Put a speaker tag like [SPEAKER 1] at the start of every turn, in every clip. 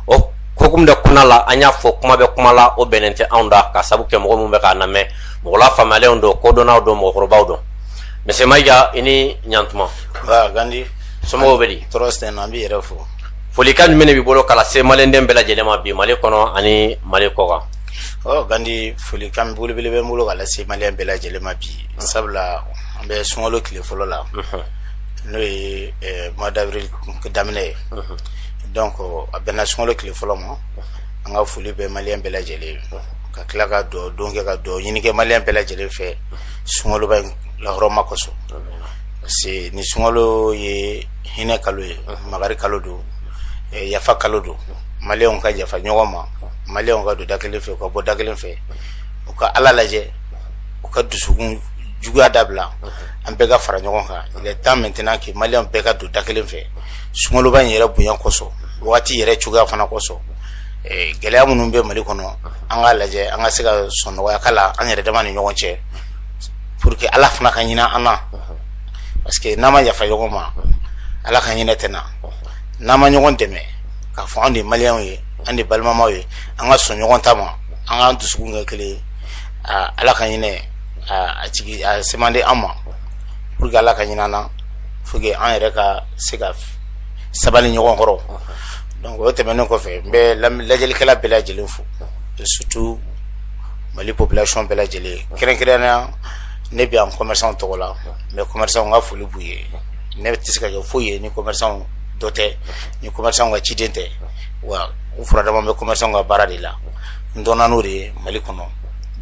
[SPEAKER 1] o kokum da kuna la an y'a fɔ kuma bɛ kuma la o bɛnnen tɛ anw da ka sabu kɛ mɔgɔ minnu bɛ k'a lamɛn mɔgɔ lafaamuyalenw don kodɔnnaw don mɔgɔkɔrɔbaw don monsieur mayiga i ni ɲantuma gandi somɔgɔw bɛ di tɔɔrɔ si tɛ an b'i yɛrɛ fo folikan jumɛn de b'i bolo ka lase maliyɛnden bɛɛ lajɛlen ma bi mali kɔnɔ ani mali kɔkan ɔ gandi folikan belebele bɛ n bolo ka lase maliyɛn bɛɛ lajɛlen ma bi sabula an bɛ sunkalo tile fɔlɔ la n'o ye mois d'avril daminɛ ye donc a bɛnna sunkalo tile fɔlɔ ma an ka foli bɛ maliyɛn bɛɛ lajɛlen ka tila ka dɔ don kɛ ka dɔ ɲini kɛ maliyɛn bɛɛ lajɛlen fɛ sunkaloba in lahɔrɔma kosɔn parce que ni sunkalo ye hinɛ kalo ye makari kalo don yafa kalo don maliyɛnw ka yafa ɲɔgɔn ma maliyɛnw ka don da kelen fɛ u ka bɔ da kelen fɛ u ka ala lajɛ u ka dusukun juguya dabila an bɛɛ ka fara ɲɔgɔn kan il est temps maintenant que maliyɛn bɛɛ ka don da kelen fɛ sunkaloba in yɛrɛ bonya kosɔn waati yɛrɛ cogoya fana kosɔn gɛlɛya minnu bɛ mali kɔnɔ an k'a lajɛ an ka se ka sɔn nɔgɔyakan la an yɛrɛ dama ni ɲɔgɔn cɛ pour que ala fana ka hinɛ an na parce que n'an ma yafa ɲɔgɔn ma ala ka hinɛ tɛ na n'an ma ɲɔgɔn dɛmɛ k'a fɔ anw de maliyɛnw ye an de balimamaw ye an ka sɔn ɲɔgɔn ta ma an k'an dusukun kɛ kelen ye ala ka hinɛ a sɛmanden an ma pour que ala ka hinɛ an na faut que an yɛrɛ ka se ka sabali ɲɔgɔn kɔrɔ donc o tɛmɛnen kɔfɛ n bɛ lajɛlikɛla bɛɛ lajɛlen fo surtout mali population bɛɛ lajɛlen kɛrɛnkɛrɛnnenya ne bɛ yan commerçant tɔgɔ la mais commerçant n ka foli b'u ye ne tɛ se ka kɛ foyi ye ni commerçant dɔ tɛ ni commerçant ka ciden tɛ wa u furadama bɛ commerçant ka baara de la n dɔnna n'o de ye mali kɔnɔ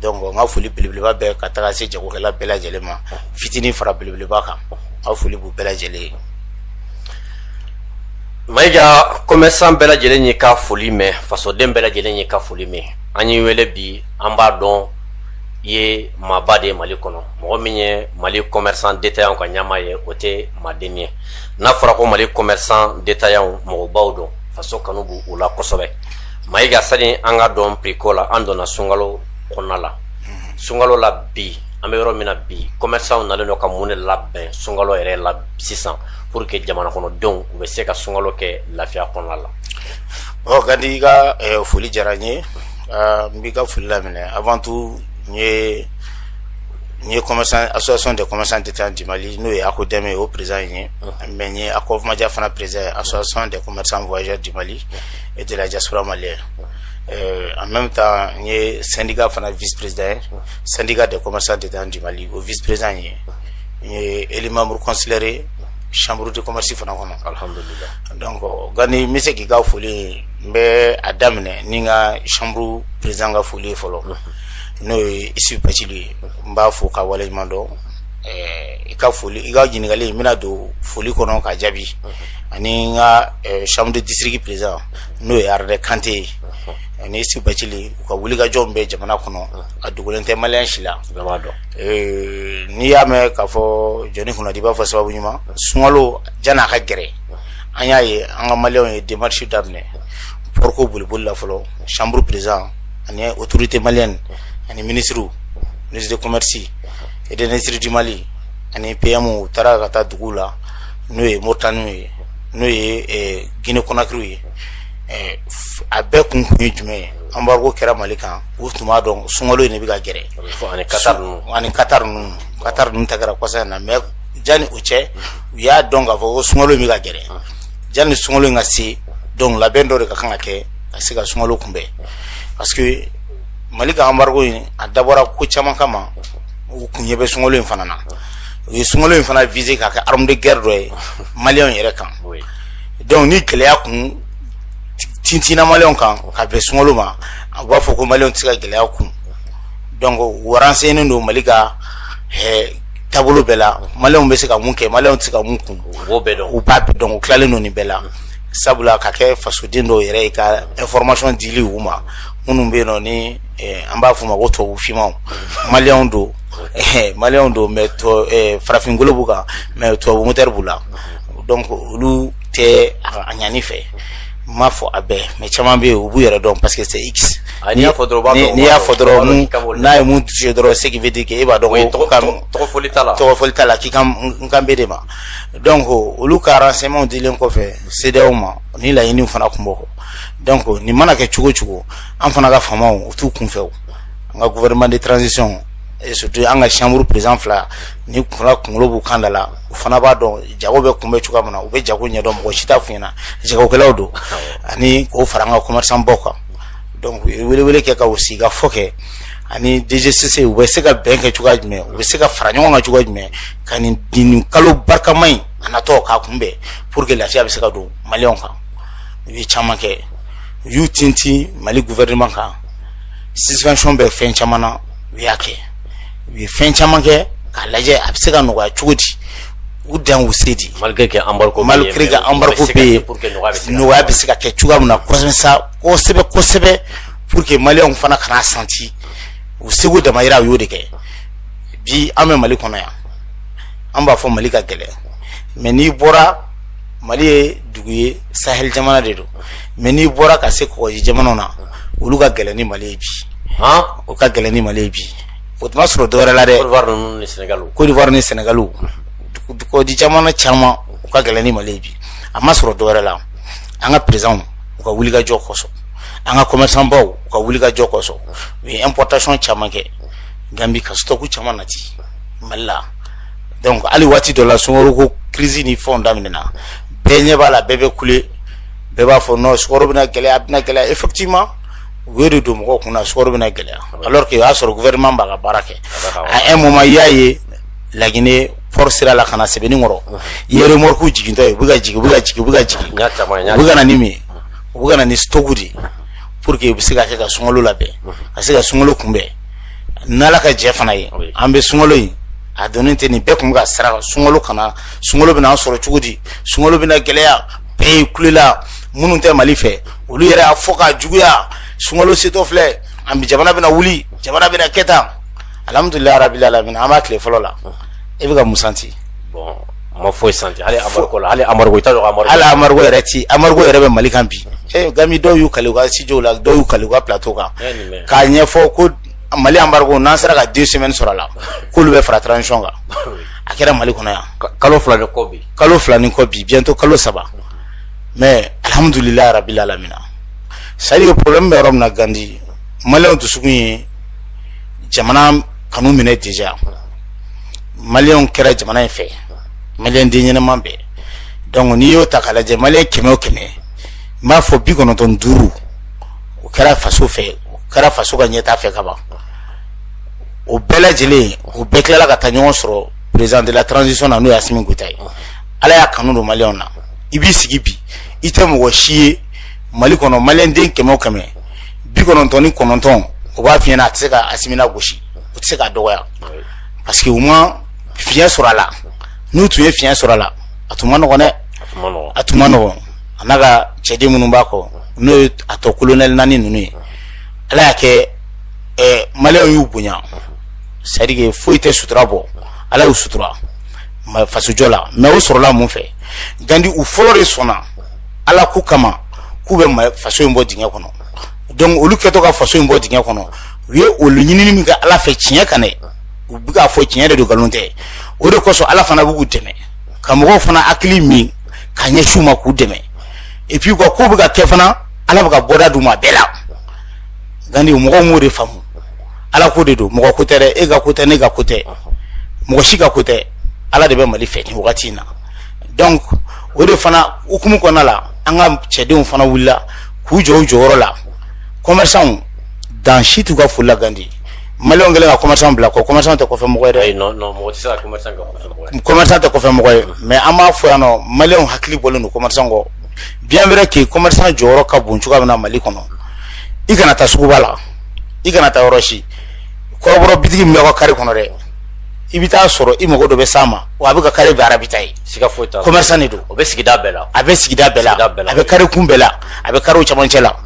[SPEAKER 1] donc n ka foli belebeleba bɛ ka taga se jagokɛla bɛɛ lajɛlen ma fitinin fara belebeleba kan n ka foli b'u bɛɛ lajɛlen ye mayiga kɔmɛrisan bɛɛ lajɛlen y'i ka foli mɛn fasoden bɛɛ lajɛlen y'i ka foli mɛn an y'i wele bi an b'a dɔn i ye maaba de ye mali kɔnɔ mɔgɔ min ye mali kɔmɛrisan detayanw ka ɲɛmaa ye o tɛ maadennin ye n'a fɔra ko mali kɔmɛrisan detayanw mɔgɔbaw don faso kanu b'u la kosɛbɛ mayiga sani an ka don prix ko la an donna sunkalo kɔnɔna la sunkalo la bi an bɛ yɔrɔ min na bi commerçants nalen don ka mun de labɛn sunkalo yɛrɛ la sisan pour que jamana kɔnɔdenw u bɛ se ka sunkalo kɛ lafiya kɔnɔna la. ɔ gandi i ka eh, foli diyara n ye ah, n b'i ka foli laminɛ avant tout n ye n ye commerçant association des commerçants détaillants du Mali n'o ye ACODEM ye o président in ye mais n ye ACOVMADIA fana président ye association des commerçants voyageurs du Mali et de la diaspora malienne. Euh, en même temps n ye syndicat fana vice président ye. syndicat des commerçants détaillants du Mali o vice président ye n ye élu membre consulaire ye chambre de commerce fana kɔnɔ alhamdulillah donc yani n bɛ se k'i ka foli n bɛ a daminɛ ni n ka chambre président ka foli ye fɔlɔ n'o ye Isufu Bacili ye n b'a fo ka waleɲuman dɔn i ka foli i ka ɲininkali n bɛna don foli kɔnɔ k'a jaabi ani n ka chambre de district président n'o ye Aruna Kante ye ani Isufu Bacili u ka wulikajɔw bɛ jamana kɔnɔ a dogolen tɛ maliyɛn si la donc n'i y'a mɛn k'a fɔ jɔnni kunnandi i b'a fɔ sababu ɲuman sunkalo jani a ka gɛrɛ an y'a ye an ka mali ye démarche daminɛ port ko boliboli la fɔlɔ chambre président ani autorités maliennes ani minisiri minisiri de commerce et d'industrie du mali ani PM u taara ka taa dugu la n'o ye Mauritanie ye n'o ye Guinée Conakry ye a bɛɛ kun kun ye jumɛn ye anbargo kɛra mali kan u tun b'a dɔn sunkalo in de bɛ ka gɛrɛ ani kata ninnu ani kata ninnu kata ninnu ta kɛra kɔsa in na mɛ jani o cɛ u y'a dɔn k'a fɔ ko sunkalo in bɛ ka gɛrɛ jani sunkalo in ka se donc labɛn dɔ de ka kan ka kɛ ka se ka sunkalo kunbɛn parce que mali ka anbargo in a dabɔra ko caman kama u kun ɲɛ bɛ sunkalo in fana na u ye sunkalo in fana visé k'a kɛ arme de guerre dɔ ye maliyɛnw yɛrɛ kan donc ni gɛlɛya kun tintina maliyɛnw kan ka bɛn sunkalo ma u b'a fɔ ko mali tɛ se ka gɛlɛya kun donc u renseignénen don mali ka taabolo bɛɛ la mali bɛ se ka mun kɛ mali tɛ se ka mun kun u b'a dɔn tilalen ninnu bɛɛ la sabula ka kɛ fasoden dɔw yɛrɛ ye ka information dili u ma minnu bɛ yen nɔ ni an b'a fɔ u ma ko tubabu finmanw mali don mali don mɛ farafin golo b'u kan mɛ tubabu wɛrɛ b'u la donc olu tɛ a ɲani fɛ n m'a fɔ a bɛɛ mɛ caman bɛ yen u b'u yɛrɛ dɔn parce que c'est x n'i y'a fɔ dɔrɔn mun n'a ye mun touché dɔrɔn ce qui veut dire que e b'a dɔn ko tɔgɔ fɔli t'a la tɔgɔ fɔli t'a la k'i kan n kan bɛ e de ma donc olu ka renseignements dilen kɔfɛ CEDEAO ma nin laɲiniw fana kun b'o kɔ donc nin mana kɛ cogo cogo an fana ka faamaw u t'u kunfɛ o an ka gouvernement de transition et surtout an ka chambre président fila ni kunna kunkolo b'u kan da la u fana b'a dɔn jago bɛ kunbɛn cogoya min na u bɛ jago ɲɛdɔn mɔgɔ si t'a f'u ɲɛna jagokɛlaw don ani k'o fara an ka commerçant baw kan donc u ye welewele kɛ ka u sigi ka fɔ kɛ ani DGCC u bɛ se ka bɛn kɛ cogoya jumɛn u bɛ se ka fara ɲɔgɔn kan cogoya jumɛn ka nin nin kalo barikama in a natɔ k'a kunbɛn pour que lafiya bɛ se ka don maliyɛnw kan u ye caman kɛ u y'u tintin Mali gouvernement kan suspension bɛ fɛn caman na u y'a kɛ u ye fɛn caman kɛ k'a lajɛ a bɛ se ka nɔgɔya cogo di u dan u se di malgré que embargo malgré que embargo bɛ yen nɔgɔya bɛ se ka kɛ cogoya min na kosɛbɛ sa kosɛbɛ kosɛbɛ pour que maliyɛnw fana kan'a santi u seko damayira u y'o de kɛ bi an bɛ mali kɔnɔ yan an b'a fɔ mali ka gɛlɛn mais n'i bɔra mali ye dugu ye sahel jamana de don mais n'i bɔra ka se kɔgɔji jamanaw na olu ka gɛlɛn ni mali ye bi u ka gɛlɛn ni mali ye bi o tun ma sɔrɔ dɔwɛrɛ la dɛ Côte d'Ivoire ni Sénégal kɔgɔji jamana caman u ka gɛlɛn ni mali ye bi a ma sɔrɔ dɔwɛrɛ la an ka perezidanw u ka wulikajɔ kɔsɔn an ka commerçant baw u ka wulikajɔ kɔsɔn u ye importation caman kɛ gambi ka stock caman nati mali la donc hali waati dɔ la sukaro ko crise ni fɛnw daminɛna bɛɛ ɲɛ b'a la bɛɛ bɛ kule bɛɛ b'a fɔ non sukaro bɛna gɛlɛya a bɛna gɛlɛya effectivement u y'o de don mɔgɔw kun na sukaro bɛna gɛlɛya alors que o y'a sɔrɔ gouvernement b'a ka baara kɛ à un moment i y'a ye laginɛ port sira la ka na sebeninkɔrɔ i ye remorque jigintɔ ye u bɛ ka jigin u bɛ ka jigin u bɛ ka jigin u bɛ ka na ni mun ye u bɛ ka na ni stock de ye pour que u bɛ se ka kɛ ka sunkalo labɛn ka se ka sunkalo kunbɛn n'ala ka jɛn fana ye an bɛ sunkalo in na don tɛ nin bɛɛ tun bɛ ka siran sunkalo kana sunkalo bɛna sɔrɔ cogo di sunkalo bɛna gɛlɛya bɛɛ ye kulela minnu tɛ mali fɛ olu yɛrɛ y'a fɔ ka juguya sunkalo setɔ filɛ an bɛ jamana bɛna wuli jamana bɛna kɛ tan alhamdulilayi rabbil alamina an b'a tile fɔlɔ la e bɛ ka mun santi A ma foyi santi hali embargo ko la hali embargo i t'a dɔn embargo hali embargo yɛrɛ ti embargo yɛrɛ bɛ mali kan bi ee gandi dɔw y'u kali u ka studio la dɔw y'u kali u ka plateau kan Ɛ nin bɛ k'a ɲɛfɔ ko mali embargo n'an sera ka deux semaines sɔrɔ a la k'olu bɛ fara transition kan a kɛra mali kɔnɔ yan ka- kalo fila de kɔ bi kalo fila ni kɔ bi bientôt kalo saba mais alhamdulilayi rabbil alamina c'est à dire que problème bɛ yɔrɔ min na gandi maliyɛnw dusukun ye jamana kanu minɛ déjà maliyɛnw kɛra jamana in fɛ maliden ɲɛnama bɛɛ donc n'i y'o ta ka lajɛ mali kɛmɛ o kɛmɛ n b'a fɔ bi kɔnɔntɔn ni duuru o kɛra faso fɛ o kɛra faso ka ɲɛtaa fɛ ka ban o bɛɛ lajɛlen o bɛɛ tilala ka taa ɲɔgɔn sɔrɔ président de la transition na n'o ye Assimi Goïta ye ala y'a kanu don maliyɛnw na i b'i sigi bi i tɛ mɔgɔ si ye mali kɔnɔ maliyɛnden kɛmɛ o kɛmɛ bi kɔnɔntɔn ni kɔnɔntɔn o b'a fiyɛna a tɛ se ka Assimi gosi u tɛ se ka dɔgɔya parce que u ma fiɲɛ sɔrɔ a la n'u tun ye fiɲɛ sɔrɔ a la a tun ma nɔgɔ dɛ a tun ma nɔgɔ a n'a ka cɛden minnu b'a kɔ n'o ye a tɔ kolonɛli naani ninnu ye ala y'a kɛ mali y'u bonya parce que foyi tɛ sutura bɔ ala y'u sutura fasojɔ la mais o sɔrɔla mun fɛ gandi u fɔlɔ de sɔnna ala k'u kama k'u bɛ faso in bɔ dingɛ kɔnɔ donc olu kɛtɔ ka faso in bɔ dingɛ kɔnɔ u ye olu ɲinini min kɛ ala fɛ tiɲɛ kan dɛ u bɛ k'a fɔ tiɲɛ de don nkalon tɛ o de kosɔn ala fana b'u dɛmɛ ka mɔgɔw fana hakili minɛ ka ɲɛsin u ma k'u dɛmɛ epi u ka ko bɛ ka kɛ fana ala bɛ ka bɔda d'u ma bɛɛ la nka mɔgɔw m'o de faamu ala ko de don mɔgɔ ko tɛ dɛ e ka ko tɛ ne ka ko tɛ mɔgɔ si ka ko tɛ ala de bɛ mali fɛ nin wagati in na donc o de fana hukumu kɔnɔna la an ka cɛdenw fana wulila k'u jɔ u jɔyɔrɔ la commerçants dan si t'u ka foli la gandi maliɲɛw kɛlen ka commerçant bila kɔ commerçant tɛ kɔfɛ mɔgɔ ye dɛ ayi non non mɔgɔ tɛ se ka commerçant kɛ kɔfɛ mɔgɔ ye commerçant tɛ kɔfɛ mɔgɔ ye mais an b'a fɔ yan nɔ maliɲɛw hakili bɔlen don commerçant kɔ bien vrai que commerçant jɔyɔrɔ ka bon cogoya min na mali kɔnɔ i kana taa suguba la i kana taa yɔrɔ si kɔrɔbɔrɔ bitigi min bɛ aw ka kari kɔnɔ dɛ i bɛ taa sɔrɔ i mago dɔ bɛ s'a ma wa a bɛ ka kari bɛɛ ravitailler siga foyi t'a la commerçant de don o bɛ sigida bɛɛ la a bɛ sigida bɛɛ la Sigida bɛɛ la. a bɛ kari kun bɛɛ la a bɛ kariw cɛmancɛ la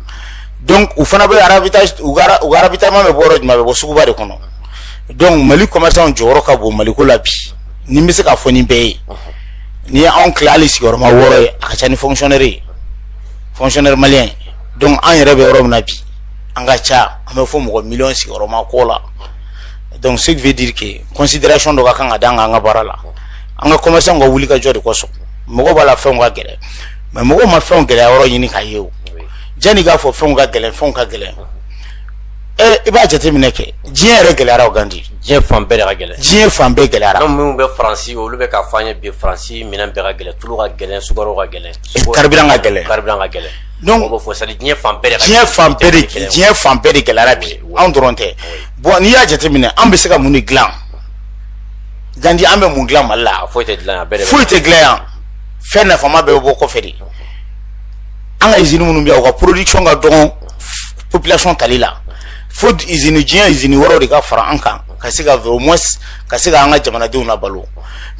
[SPEAKER 1] donc u fana bɛ ravitailler u ka u ka ravitaillement bɛ bɔ yɔrɔ jumɛn a bɛ bɔ suguba de kɔnɔ donc mali commerçant jɔyɔrɔ ka bon maliko la bi ni n bɛ se k'a fɔ ni bɛɛ ye n'i ye anw tila hali sigiyɔrɔma wɔɔrɔ ye a ka ca ni fonctionnaire ye fonctionnaire malien donc an yɛrɛ bɛ yɔrɔ min na bi an ka ca an bɛ fɔ mɔgɔ miliyɔn sigiyɔrɔma kɔ la donc ce qui veut dire que considération dɔ ka kan ka d'an kan an ka baara la an ka commerçant ka wulikajɔ de kosɔn mɔgɔ b'a la fɛnw ka gɛlɛn mais mɔgɔw ma fɛnw gɛlɛya yɔrɔ ɲini k'a ye o jani k'a fɔ fɛnw ka gɛlɛn fɛnw ka gɛlɛn i b'a jateminɛ kɛ diɲɛ yɛrɛ gɛlɛyara gandi diɲɛ fan bɛɛ ka gɛlɛn diɲɛ fan bɛɛ gɛlɛyara anw minnu bɛ faransi olu bɛ k'a f'an ye bi faransi minɛn bɛɛ ka gɛlɛn tulu ka gɛlɛn sukaro ka gɛlɛn carburant ka gɛlɛn carburant ka gɛlɛn donc b'o fɔ sali diɲɛ fan bɛɛ diɲɛ fan bɛɛ de diɲɛ fan bɛɛ de gɛlɛyara bi anw dɔrɔn tɛ bɔn n'i y'a jateminɛ an bɛ se ka mun de dilan gandi an bɛ mun dilan mali la foyi tɛ dilan yan foyi tɛ dilan yan fɛn nafama bɛɛ bɛ bɔ kɔfɛ de an ka izini minnu bɛ yan u ka production ka dɔgɔn population tali la fo izini diɲɛ izini wɛrɛw de ka fara an kan ka se ka au moins ka se ka an ka jamanadenw nabalo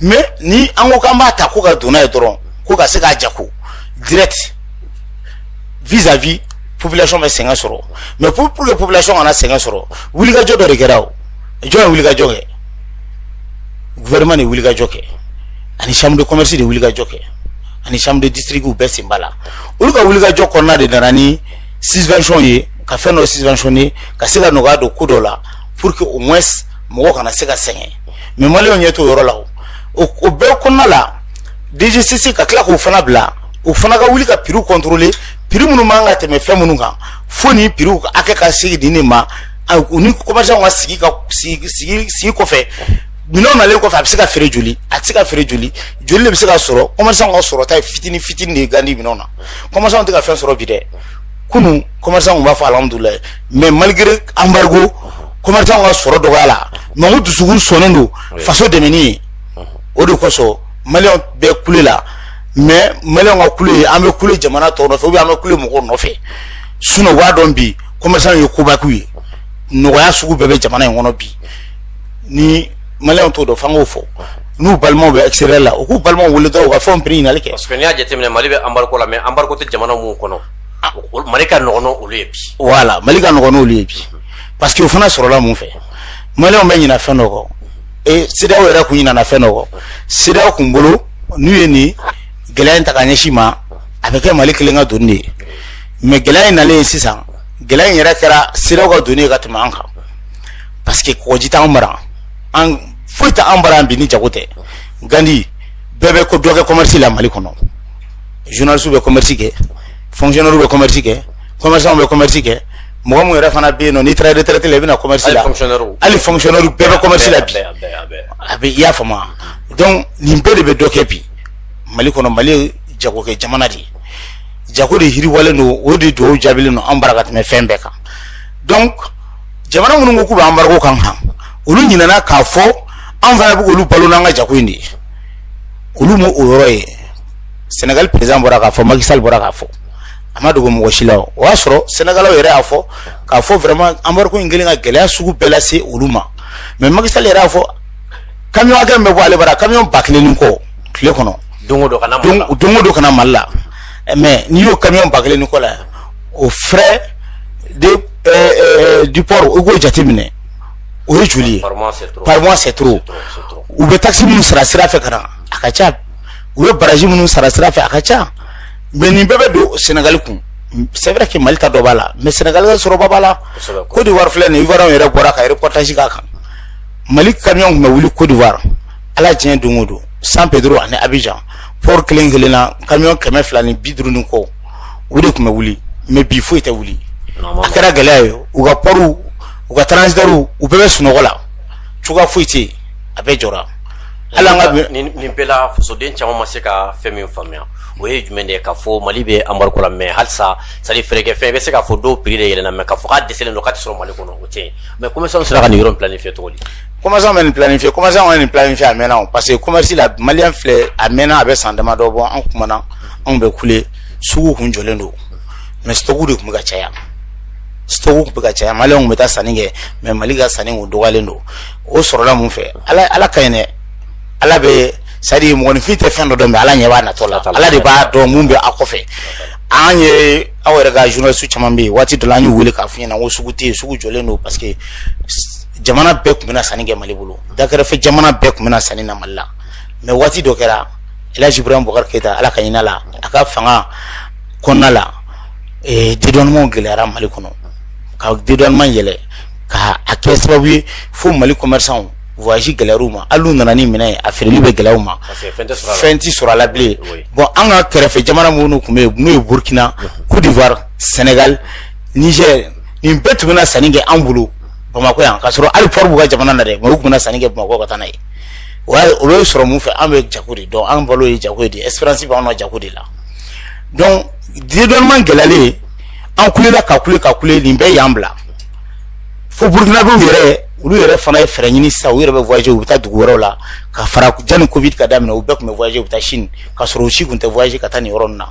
[SPEAKER 1] mais ni an ko k'an b'a ta ko ka don n'a ye dɔrɔn ko ka se k'a jako direct vis à vis population bɛ sɛgɛn sɔrɔ mais pour pour que population kana sɛgɛn sɔrɔ wulikajɔ dɔ de kɛra o jɔn ye wulikajɔ kɛ gouvernement ye wulikajɔ kɛ ani chambre de commerce ye wulikajɔ kɛ ani chambre de district u bɛɛ sen b'a la olu ka wulikajɔ kɔnɔna de nana ni subvention ye ka fɛn dɔ subventionne ka se ka nɔgɔya don ko dɔ la pour que au moins mɔgɔ kana se ka sɛgɛn mais maliyɛnw ɲɛ t'o yɔrɔ la o o bɛɛ kɔnɔna la dgcc ka tila k'o fana bila o fana ka wuli ka piriw contrôler piri minnu man ka tɛmɛ fɛn minnu kan fo ni piriw hakɛ ka segin nin de ma u ni commerçantw ka sigi ka sigi sigi sigi kɔfɛ minɛnw nalen kɔfɛ a bɛ se ka feere joli a tɛ se ka feere joli joli de bɛ se ka sɔrɔ commerçant ka sɔrɔta ye fitini fitini de ye gandi minɛnw na commerçant tɛ ka fɛn sɔrɔ bi dɛ kunu commerçant tun b'a fɔ alhamdulilayi mais malgré embargo commerçantw ka sɔrɔ dɔgɔyala mais u dusukun sɔnnen don faso dɛmɛni ye o de kosɔn maliyɛnw bɛ kule la mais maliyɛnw ka kule an bɛ kule jamana tɔw nɔfɛ ou bien an bɛ kule mɔgɔw nɔfɛ sinon u b'a dɔn bi commerçant ye koba kɛ ye nɔgɔya sugu bɛɛ bɛ jamana in kɔnɔ bi ni maliyɛnw t'o dɔn f'an k'o fɔ n'u balimaw bɛ extérieur la u k'u balimaw wele dɔrɔn u ka fɛnw prix ɲinali kɛ parce que n'i y'a jateminɛ mali bɛ embargo la mais embargo tɛ jamana minnu kɔnɔ ah. mali ka nɔgɔn n'olu ye bi voilà mali ka nɔgɔn n'olu ye bi parce que o fana sɔrɔla mun fɛ maliyɛnw bɛ ɲina fɛn dɔ kɔ e cedeao yɛrɛ kun ɲinana fɛn dɔ kɔ cedeao kun bolo n'u ye nin gɛlɛya in ta ka ɲɛsin an ma a bɛ kɛ mali kelen ka doni de ye mais gɛlɛya in nalen sisan gɛlɛya in yɛrɛ kɛra cedeao ka doni ye ka tɛmɛ an kan parce que kɔgɔji t'an bara foyi t'an bara bi ni jago tɛ gandi bɛɛ bɛ ka dɔ kɛ commerce la mali kɔnɔ journaliste bɛ commerce kɛ fonctionnaire bɛ commerce kɛ commerçant bɛ commerce kɛ mɔgɔ min yɛrɛ fana bɛ yen nɔ n'i taara retraite la i bɛ na commerce la hali fonctionnaire bɛɛ bɛ commerce la bi a bɛ i y'a faamu donc nin bɛɛ de bɛ dɔ kɛ bi mali kɔnɔ mali ye jagokɛ jamana de ye jago de yiriwalen don o de dugawu jaabilen don an bara ka tɛmɛ fɛn bɛɛ kan donc jamana minnu ko k'u bɛ embargo k'an kan olu ɲinɛna k'a fɔ an fana bɛ k'olu balo n'an ka jago in de ye olu m'o o yɔrɔ ye senegali perezidan bɔra k'a fɔ macky sall bɔra k'a fɔ a ma dogo mɔgɔ si la o y'a sɔrɔ senegalikaw yɛrɛ y'a fɔ k'a fɔ vraiment embargo in kɛlen ka gɛlɛya sugu bɛɛ lase olu ma mais macky sall yɛrɛ y'a fɔ camion hakɛ min bɛ bɔ ale bara camion ba kelen ni kɔ tile kɔnɔ don o don ka na mali la mais n'i y'o camion ba kelen ni kɔ la o frais du port u k'o jate minɛ o ye joli ye surtout u bɛ taxe minnu sara sira fɛ ka na a ka ca u ye barrage minnu sara sira fɛ a ka ca mais nin bɛɛ bɛ don sɛnɛgali kun c'est vrai que mali ta dɔ b'a la mais sɛnɛgali sɔrɔba b'a la côte d'ivoire filɛ nin i yɛrɛ bɔra ka reportage k'a kan mali kamiyɔnw tun bɛ wuli kodiwari ala tiɲɛ don o don san pedro ani abijan pɔri kelen kelen na kamiyɔn kɛmɛ fila ni bi duuru ni kɔ o de tun bɛ wuli mɛ bi foyi tɛ wuli a kɛra gɛlɛya ye u ka pɔriw u ka transitɛriw u bɛɛ bɛ sunɔgɔ la cogoya foyi tɛ yen a bɛɛ jɔra ala ka nin bɛɛ la fasoden caman ma se ka fɛn min faamuya o ye jumɛn de ye ka fɔ mali bɛ anbariko la mɛ halisa sadi fɛrɛkɛ fɛn i bɛ se ka fɔ dɔw piri de yɛlɛnna mɛ ka fɔ ko dɛsɛ don k'a tɛ sɔrɔ mali kɔnɔ o tɛ yen Mɛ kɔmi sera ka nin yɔrɔ bila nin fɛ tuguni koma bɛ nin fila in fɛ koma ka nin fila in fɛ a mɛnna o parce que commerce la mali filɛ a mɛnna a bɛ san damadɔ bɔ an tumaumana anw bɛ kule sugu tun jɔlen don mɛ stock de tun bɛ ka caya stock tun bɛ ka caya mali bɛ taa sanni kɛ mɛ mali ka sanni o dɔgɔlen don o sɔrɔla min fɛ ala ala ka ɲi dɛ ala bɛ sadi mɔgɔninfin tɛ fɛn dɔ dɔn mɛ ala ɲɛ b'a natɔ la ala de b'a dɔn minnu bɛ a kɔfɛ an ye aw yɛrɛ ka journaliste caman bɛ yen waati dɔ la an y'u wele k'a f'u ɲɛna ko sugu tɛ yen sugu jɔlen don parce que jamana bɛɛ tun bɛ na sanni kɛ mali bolo dakɛrɛfɛ jamana bɛɛ tun bɛ na sanni na mali la mɛ waati dɔ kɛra elhaji ibrahim bokar keyita ala ka hin'a la a ka fanga kɔnɔna la dédouanementw gɛlɛyara mali kɔnɔ ka dédouanement yɛlɛn ka a kɛ sababu ye fo mali commerçantw voyage gɛlɛyar'u ma hali n'u nana ni min ye a feereli bɛ gɛlɛya u ma fɛn tɛ sɔrɔ a la bilen bon an ka kɛrɛfɛ jamana minnu tun bɛ yen n'o ye burukina kodiwari sɛnɛgali nizɛri nin bɛɛ tun bɛ na sanni kɛ an bolo bamakɔ yan ka sɔrɔ hali pɔri b'u ka jamana na dɛ mɛ u tun bɛ na sanni kɛ bamakɔ ka taa n'a ye o bɛ sɔrɔ min fɛ an bɛ jago de dɔn an balo ye jago ye de esperansi bɛ anw jago de la donc dédouanement gɛlɛyalen an kulela ka kule ka kule nin bɛɛ y'an bila fo burukinabɛw yɛrɛ olu yɛrɛ fana ye fɛɛrɛ ɲini sisan u yɛrɛ bɛ voyager u bɛ taa dugu wɛrɛw la ka fara janni covid ka daminɛ u bɛɛ tun bɛ voyager u bɛ taa Chine ka sɔrɔ u si tun tɛ voyager ka taa nin yɔrɔ ninnu na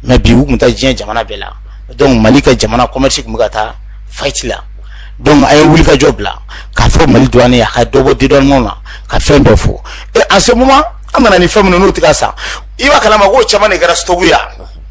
[SPEAKER 1] mais bi u bɛ taa diɲɛ jamana bɛɛ la donc Mali ka jamana commerce tun bɛ ka taa faillite la donc an ye wulikajɔ bila k'a fɔ Mali douanier a ka dɔ bɔ dédouanement na ka fɛn bɛɛ fɔ et en ce moment an nana ni fɛn minnu n'u tɛ ka san i b'a kalama k'o caman de kɛra stock ye wa.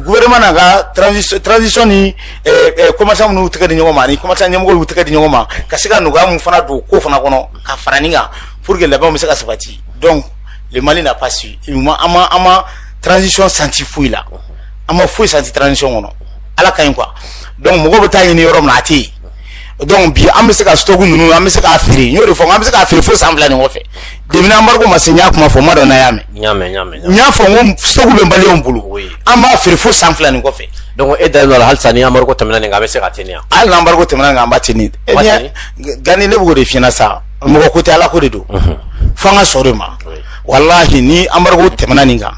[SPEAKER 1] gouvernement n'a ka transition ni commerçant minnu y'u tɛgɛ di ɲɔgɔn ma ni commerçant ɲɛmɔgɔw y'u tɛgɛ di ɲɔgɔn ma ka se ka nɔgɔya min fana don ko fana kɔnɔ ka fara ɲɔgɔn kan pour que laban bɛ se ka sabati donc le mali n'a pas an ma transition santi foyi la an ma foyi santi transition kɔnɔ ala ka ɲi quoi donc mɔgɔ bɛ taa ɲini yɔrɔ min a tɛ yen donc bi an bɛ se ka stock ninnu an bɛ se k'a feere n y'o de fɔ an bɛ se k'a feere fo san fila nin kɔfɛ demina embargo ma se n y'a kuma fɔ n m'a dɔn n'a y'a mɛn n y'a mɛn n y'a mɛn n y'a fɔ n ko stock bɛ maliyɛnw bolo an b'a feere fo san fila nin kɔfɛ donc e dalen don a la halisa ni embargo tɛmɛna nin kan a bɛ se ka teni yan hali ni embargo tɛmɛna nin kan an b'a teni e ɲɛ gani ne bɛ k'o de f'i ɲɛna sa mɔgɔ ko tɛ ala ko de don fo an ka sɔn de ma walahi ni embargo tɛmɛna nin kan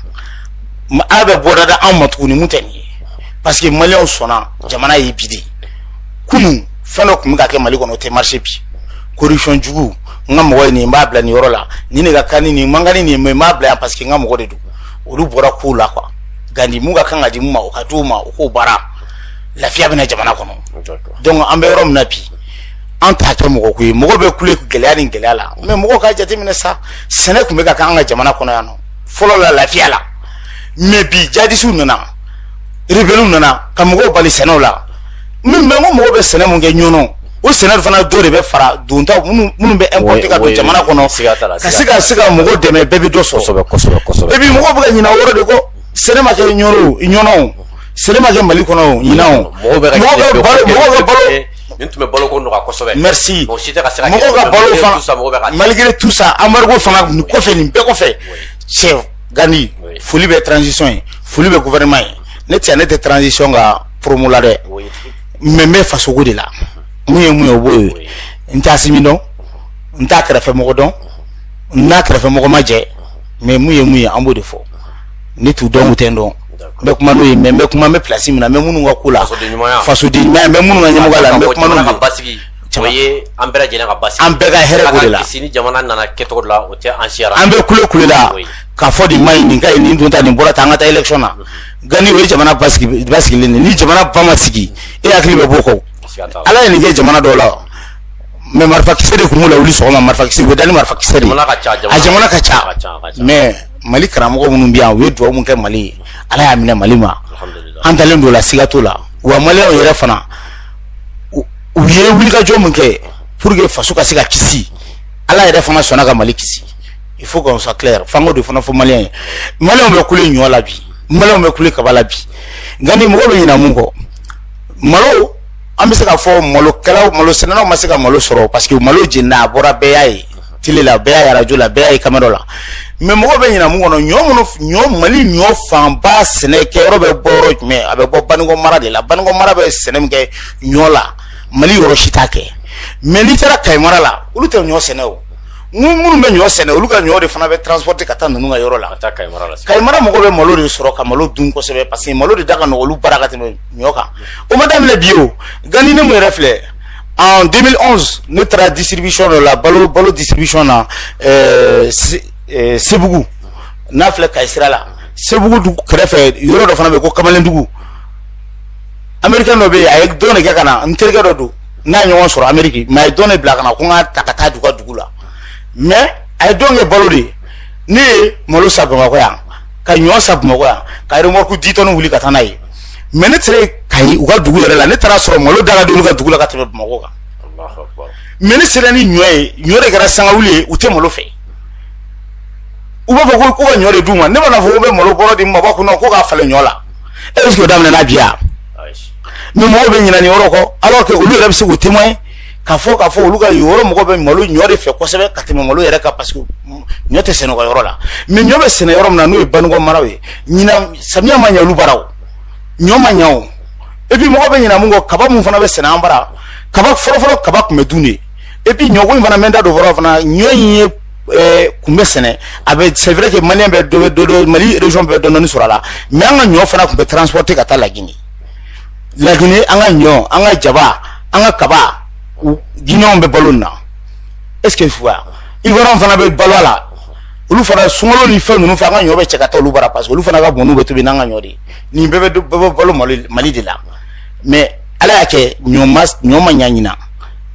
[SPEAKER 1] ala bɛ bɔda da anw ma tuguni min tɛ nin ye parce que maliyɛnw sɔnna jamana ye bi de kunun fɛn dɔ tun bɛ ka kɛ mali kɔnɔ o tɛ marché bi corruption jugu n ka mɔgɔ ye nin n b'a bila nin yɔrɔ la nin de ka kan ni nin man kan ni nin mais n b'a bila yan parce que n ka mɔgɔ de don olu bɔra kow la quoi gandi min ka kan ka di min ma o ka d'o ma o k'o baara lafiya bɛ na jamana kɔnɔ donc an bɛ yɔrɔ min na bi an t'a kɛ mɔgɔ ko ye mɔgɔ bɛ kule gɛlɛya ni gɛlɛya la mais mɔgɔw k'a jateminɛ sa sɛnɛ tun bɛ ka kɛ an ka jamana kɔnɔ yan nɔ fɔlɔ la lafiya la mais bi jadisiw nana rebɛliw nana ka mɔgɔw bali sɛnɛ la min mɛ ko mɔgɔw bɛ sɛnɛ min kɛ ɲɔ na o sɛnɛ fana dɔ de bɛ fara donta minnu bɛ importé ka don jamana kɔnɔ ka se ka se ka mɔgɔ dɛmɛ bɛɛ bɛ dɔ sɔrɔ bɛɛ bɛ mɔgɔ bɛ ka ɲina o yɔrɔ de kɔ sɛnɛ ma kɛ ɲɔ ɲɔ sɛnɛ ma kɛ mali kɔnɔ ɲinan mɔgɔ bɛ balo nin tun bɛ balo ko nɔgɔya kosɛbɛ mais mɔgɔ si tɛ ka se ka mɔgɔw ka balo fana malgré tout ça embargo fana nin kɔfɛ nin bɛɛ kɔfɛ tiɲɛ Gandi foli bɛ transition ye foli bɛ gouvernement ye ne cɛ ne tɛ transition ka promo la dɛ mais n bɛ faso ko de la mun ye mun b'o ye n t'Asimi dɔn n t'a kɛrɛfɛmɔgɔ dɔn n n'a kɛrɛfɛmɔgɔ ma jɛ mais mun ye mun ye an b'o de fɔ ne t'u dɔn u tɛ n dɔn bɛ kuma n'o ye mais bɛ kuma bɛ plasi min na mɛ minnu ka ko la faso minnu ɲɛmɔgɔ la caman ye an bɛɛ lajɛlen ka basi an bɛɛ ka hɛrɛ b'o de la kisi ni jamana nana kɛcogo la o tɛ an siyara an bɛ kule kule la k'a fɔ nin ma ɲi nin ka ɲi nin dun ta nin bɔra tan an ka taa élection na gandi o ye jamana basigi basigilen de ni jamana ba ma sigi i hakili bɛ b'o kɔ ala ye nin kɛ jamana dɔw la mais marifakisɛ de tun b'o la wuli sɔgɔma marifakisɛ u bɛ da ni marifakisɛ de a jamana ka ca mais mali karamɔgɔ minnu bɛ yan u ye dugawu min kɛ mali ye ala y'a minɛ mali ma an dalen don o la siga t'o la wa maliyɛnw yɛrɛ fana u ye wulikajɔ min kɛ pour que faso ka se ka kisi ala yɛrɛ fana sɔnna ka mali kisi il faut qu'on soit clair fan dɔ de fana fɔ maliyɛn ye maliyɛnw bɛ kule ɲɔ la bi maliyɛnw bɛ kule kaba la bi gandi mɔgɔ bɛ ɲina mun kɔ malo an bɛ se ka fɔ malokɛlaw malosɛnɛnaw ma se ka malo sɔrɔ parce que malo jenina a bɔra bɛɛ y'a ye tele la bɛɛ y'a arajo la bɛɛ y'a ye kamera la mais mɔgɔ bɛ ɲina mun kɔ ɲɔ minnu ɲɔ mali ɲɔ fanba sɛnɛ kɛ yɔrɔ bɛ bɔ yɔrɔ jumɛn a bɛ bɔ banikɔ mara de la banikɔ mara bɛ sɛnɛ min kɛ ɲɔ la mali yɔrɔ si t'a kɛ mais n'i taara kayi mara la olu tɛ ɲɔ sɛnɛ o minnu bɛ ɲɔ sɛnɛ olu ka ɲɔ de fana bɛ transporte ka taa ninnu ka yɔrɔ la kayi mara mɔgɔ bɛ malo de sɔrɔ ka malo dun kosɛbɛ parce que malo de da ka nɔgɔ olu bara ka tɛmɛ ɲɔ kan o ma daminɛ bi o gandi ne min yɛrɛ filɛ en 2011 ne taara distribution dɔ la balo balo distribution na euh, se- euh, sebugu n'a filɛ kayi sira la sebugu dugu kɛrɛfɛ yɔrɔ dɔ fana bɛ yen ko kamalendugu américain dɔ bɛ yen a ye don de kɛ ka na n terikɛ dɔ don n n'a ye ɲɔgɔn sɔrɔ amérique mais a ye don de bila ka na ko n k'a ta ka taa d'u ka dugu la mais a ye don kɛ balo de ye ne ye malo san bamakɔ yan ka ɲɔ san bamakɔ yan ka remɔrku ditɔni wuli ka taa n'a ye mɛ ne sera kayi u ka dugu yɛrɛ la ne taara a sɔrɔ malo da ka d'olu ka dugu la ka tɛmɛ bamakɔ kan mɛ ne sera ni ɲɔ ye ɲɔ de kɛra sangawuli ye u tɛ malo fɛ u b'a fɔ ko ko ka ɲɔ de d'u ma ne mana fɔ ko bɛ malo bɔrɔ di ma b'a kunna ko k'a falen ɲɔ la est ce que o daminɛna bi yan mɛ mɔgɔw bɛ ɲinɛ nin yɔrɔ kɔ alors que olu yɛrɛ bɛ se k'u témoin ka fɔ ka fɔ olu ka yɔrɔ mɔgɔ bɛ malo ɲɔ de fɛ kosɛbɛ ka tɛmɛ malo yɛrɛ kan parce que ɲɔ tɛ sɛnɛ yɔrɔ la mɛ ɲɔ bɛ sɛnɛ yɔrɔ min na n'o ye baninkɔ maraw ye ɲinan samiya ma ɲɛ olu bara o ɲɔ ma ɲɛ o epi mɔgɔ bɛ ɲinɛ mun kɔ kaba mun fana bɛ sɛnɛ an bara kaba fɔlɔfɔlɔ kaba tun bɛ dun de epi ɲɔko in fana mɛ da don fɔlɔ fana ɲɔ in ye eh, tun bɛ sɛnɛ a bɛ c'est vrai que maliyɛn bɛ dɔ dɔ mali région bɛɛ dɔɔni dɔɔni sɔrɔ a la mɛ an ka ɲɔ fana tun bɛ transporter ka taa lagini laginɛ an ka ɲɔ an ka jaba an ka kaba ginɛw bɛ balo nin na est ce que fuwa ivoiriyɛnw fana bɛ balo a la olu fana sunkalo ni fɛn ninnu fɛ an ka ɲɔ bɛ cɛ ka taa olu bara parce que olu fana ka mɔni bɛ tobi n'an ka ɲɔ de ye nin bɛɛ bɛ bɛɛ bɛ balo mali mali de la mais ala y'a kɛ ɲɔ ma ɲɔ ma ɲa ɲinan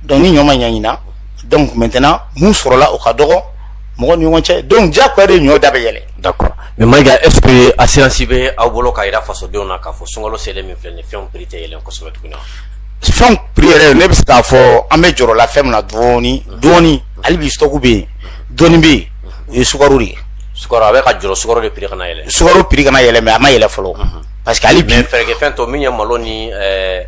[SPEAKER 1] donc ni ɲɔ ma ɲa ɲinan donc maintenant mun sɔrɔla o ka dɔgɔ mɔgɔ ni ɲɔgɔn cɛ donc diyagoya de ɲɔ da bɛ yɛlɛn d'accord mais Mayiga est ce que assurance bɛ aw bolo k'a jira fasodenw na k'a fɔ sunkalo selen min filɛ nin ye fɛnw prix tɛ yɛlɛn kosɛbɛ tuguni wa fɛnw prix yɛrɛ ne bɛ se k'a fɔ an bɛ jɔrɔ la fɛn min na dɔɔni dɔɔni hali bi stock bɛ yen dɔɔni bɛ yen o ye sukaro de ye sukaro an bɛ ka jɔrɔ sukaro de prix kana yɛlɛn sukaro prix kana yɛlɛn mais a ma yɛlɛn fɔlɔ parce que hali bi fɛɛrɛkɛfɛn tɔ min ye malo ni ɛɛ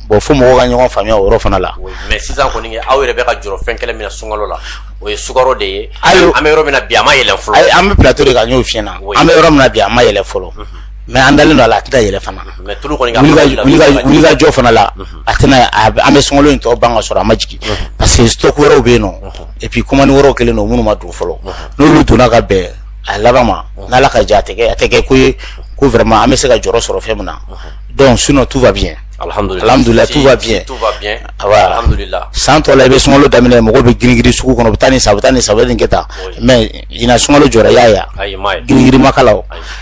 [SPEAKER 1] Bon fo mɔgɔw ka ɲɔgɔn faamuya o yɔrɔ fana la. Oui mais sisan kɔni aw yɛrɛ bɛ ka jɔrɔ fɛn kelen min na sunkalo la, o ye sukaro de ye. Ayi an bɛ yɔrɔ min na bi a ma yɛlɛn fɔlɔ. Ayi an bɛ plateau de kan n y'o f'i ɲɛna. An bɛ yɔrɔ min na bi a ma yɛlɛn fɔlɔ. Unhun. Mais an dalen don a la a tɛ ka yɛlɛn fana. Unhun mais tulu kɔni ka. Wulikajɔ fana la. Unhun. A tɛna an bɛ sunkalo in tɔ ban ka sɔrɔ a ma jigin. Unhun. Parce que stock wɛrɛw bɛ yen nɔ. Unhun. Et puis commande wɛrɛw kɛlen don minnu ma don fɔlɔ. Unhun. N'olu donna ka bɛn a laban ma. Unhun. N'Ala ka jɛ a tɛ kɛ a tɛ kɛ ko ye ko vraiment an bɛ se ka jɔrɔ sɔrɔ fɛn min na. Unhun. Donc sinon tout va bien Alhamdulila tout va bien san tɔ la i bɛ sunkalo daminɛ mɔgɔ bɛ girin girin sugu kɔnɔ bɛ taa ni sa tan ni saba kɛ taa mɛ ɲinan sunkalo jɔyɔrɔ y'a yan girin ma k'a la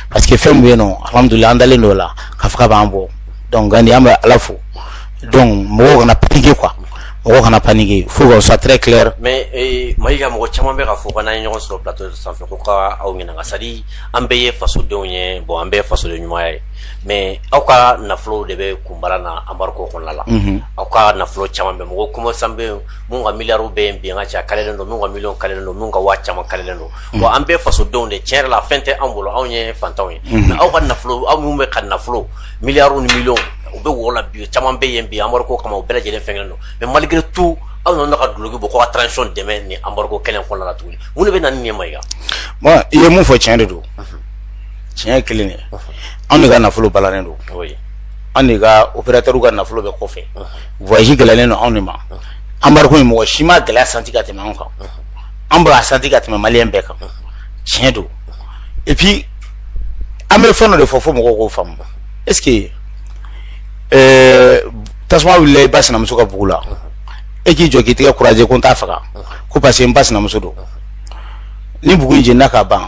[SPEAKER 1] parce que fɛn bɛ yen nɔ hamdulila an dalen don a la k'a fɔ a b'an bɔ donc an bɛ ala fo donc mɔgɔw kana paniquer quoi mɔgɔ kana paniquer fosi tɛ kɛlɛ mɛ Mayiga mɔgɔ caman bɛ ka fɔ ka ɲɔgɔn sɔrɔ sanfɛ ko ka aw ɲininka ka sa an bɛɛ ye fasodenw ye bon an bɛɛ faso ɲuman ye mɛ aw ka nafolo de bɛ kunbara na embargo kɔnɔna la aw ka nafolo caman bɛ mɔgɔ kɔmɔ san bɛ min ka miw bɛ yen bin ka ca ka don min ka mi ka don min ka waa caman ka don bon an bɛɛ fasodenw de cɛn yɛrɛ la fɛn tɛ anw bolo anw ye fantanw ye aw ka nafolo aw minnu bɛ ka nafolo mi ni mi u bɛ wla bi caman bɛ yen bi embargo kama u bɛɛ lajɛlen cɛn don mɛ malgré tout aw nana ka duloki bɔ ka transition dɛmɛ ni embargo kɛnɛ kɔnɔna la tuguni mun bɛ na ni nin ye Mayiga i ye mun fɔ cɛn de don tiɲɛ kelen ye anw de ka nafolo balannen don an de ka opérateurs ka nafolo bɛ kɔfɛ voyage gɛlɛyalen don anw de ma embargo in mɔgɔ si ma gɛlɛya santi ka tɛmɛ anw kan an b'a santi ka tɛmɛ maliyɛn bɛɛ kan tiɲɛ don et puis an bɛ fɛn dɔ de fɔ fo mɔgɔw k'o faamu est ce que euh, tasuma wulila i ba sinamuso ka bugu la e k'i jɔ k'i tɛgɛ croiser ko n t'a faga ko parce que n ba sinamuso don ni bugu in jenina ka ban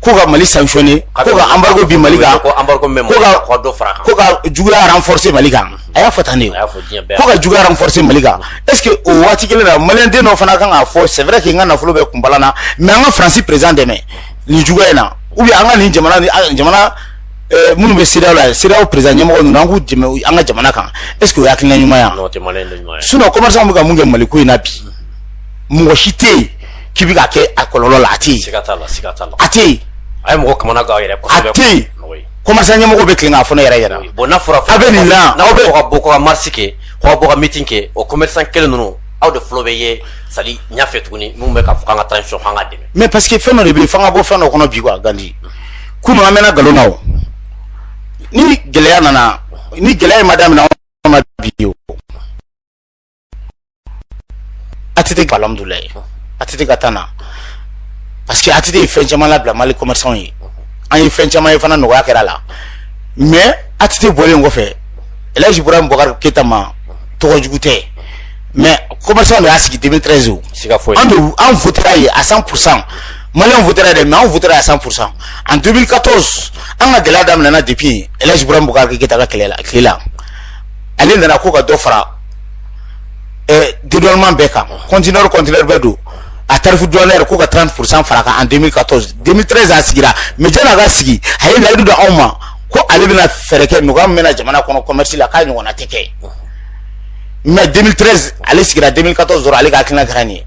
[SPEAKER 1] ko ka mali sanctionner ko ka embargo bin mali kan ko ka juguya renforcer mali kan a y'a fɔ tan de ko ka juguya renforcer mali kan est ce que o waati kelen na maliyɛn den dɔ fana kan k'a fɔ c'est vrai que n ka nafolo bɛɛ kɔni balanna mais an ka faransi président dɛmɛ nin juguya in na ou bien an ka nin jamana jamana eh, minnu bɛ CEDEAO la CEDEAO président ɲɛmɔgɔ ninnu an k'u dɛmɛ an ka jamana kan est ce que o ye hakilina ɲuman ye wa sinon commerçant bɛ ka mun kɛ mali ko in na bi mɔgɔ si tɛ yen k'i bɛ ka kɛ a kɔlɔlɔ la a tɛ yen siga t'a la siga t'a la a tɛ yen a ye mɔgɔ kamana gan yɛrɛ kosɛbɛ a tɛ yen commerçant ɲɛmɔgɔ bɛ tilen k'a fɔ ne yɛrɛ ɲɛna bon n'a fɔra aw bɛ nin la n'aw bɛ ka bɔ ka marche kɛ k'aw bɔ ka meeting kɛ o commerçant kelen ninnu aw de fɔlɔ bɛ ye salle ɲɛfɛ tuguni minnu bɛ k'a fɔ k'an ka transition f'an k'a dɛmɛ mais parce que fɛn dɔ de bɛ yen f'an ka bɔ fɛn dɔ kɔnɔ bi quoi Gandi kunu an mɛnna nkalon na o ni gɛlɛya nana ni gɛlɛya in ma daminɛ anw na bi o ATT alhamdulilayi ATT ka temps na parce que ATT ye fɛn caman labila mali commerçant ye an ye fɛn caman ye fana nɔgɔya kɛra la mais ATT bɔlen kɔfɛ elhaji Ibrahim Boubacar Keita maa tɔgɔ jugu tɛ mais commerçant de y'a sigi 2013 o an de an votera a ye à 100 pourcent maliyɛnw votera dɛ mais anw votera à 100 pourcent en 2014 an ka gɛlɛya daminɛna depuis elhaji Ibrahim Boubacar Keita ka kɛlɛ la tile la ale nana ko ka dɔ fara didɔnman bɛɛ kan kɔntinɛri kɔntinɛri bɛɛ don a tarifu dɔnɛ ko ka taa furusan fara kan dimi ka tɔn dimi tɛrɛz a sigira mɛ jɛnɛ ka sigi a ye layidu don anw ma ko ale bɛna fɛɛrɛ kɛ mɔgɔ min bɛna jamana kɔnɔ kɔmɛrisi la k'a ɲɔgɔnna tɛ kɛ mɛ dimi tɛrɛz ale sigira dimi ka tɔn sɔrɔ ale ka hakilina kɛra nin ye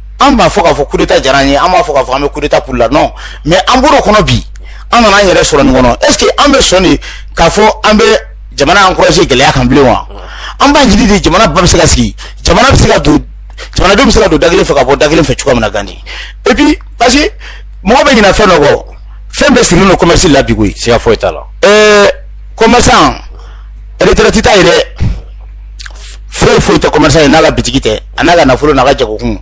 [SPEAKER 1] an b'a fɔ k'a fɔ kudeta diyara an ye an b'a fɔ k'a fɔ an bɛ kudeta pour la non mais an bɔr'o kɔnɔ bi an nana an yɛrɛ sɔrɔ nin kɔnɔ est ce que an bɛ sɔn de k'a fɔ an bɛ jamana encourager gɛlɛya kan bilen wa an b'a ɲini de jamana ba bɛ se ka sigi jamana bɛ se ka don jamanadenw bɛ se ka don da kelen fɛ ka bɔ da kelen fɛ cogoya min na Gandi et puis parce que mɔgɔ bɛ ɲinɛ fɛn dɔ kɔ fɛn bɛɛ sirilen don commerce la bi koyi siga foyi t'a la ɛɛ commerçant retraite t'a ye dɛ foyi foyi tɛ commerçant ye n'a ka bitigi tɛ a n'a ka nafolo n'a ka jagokun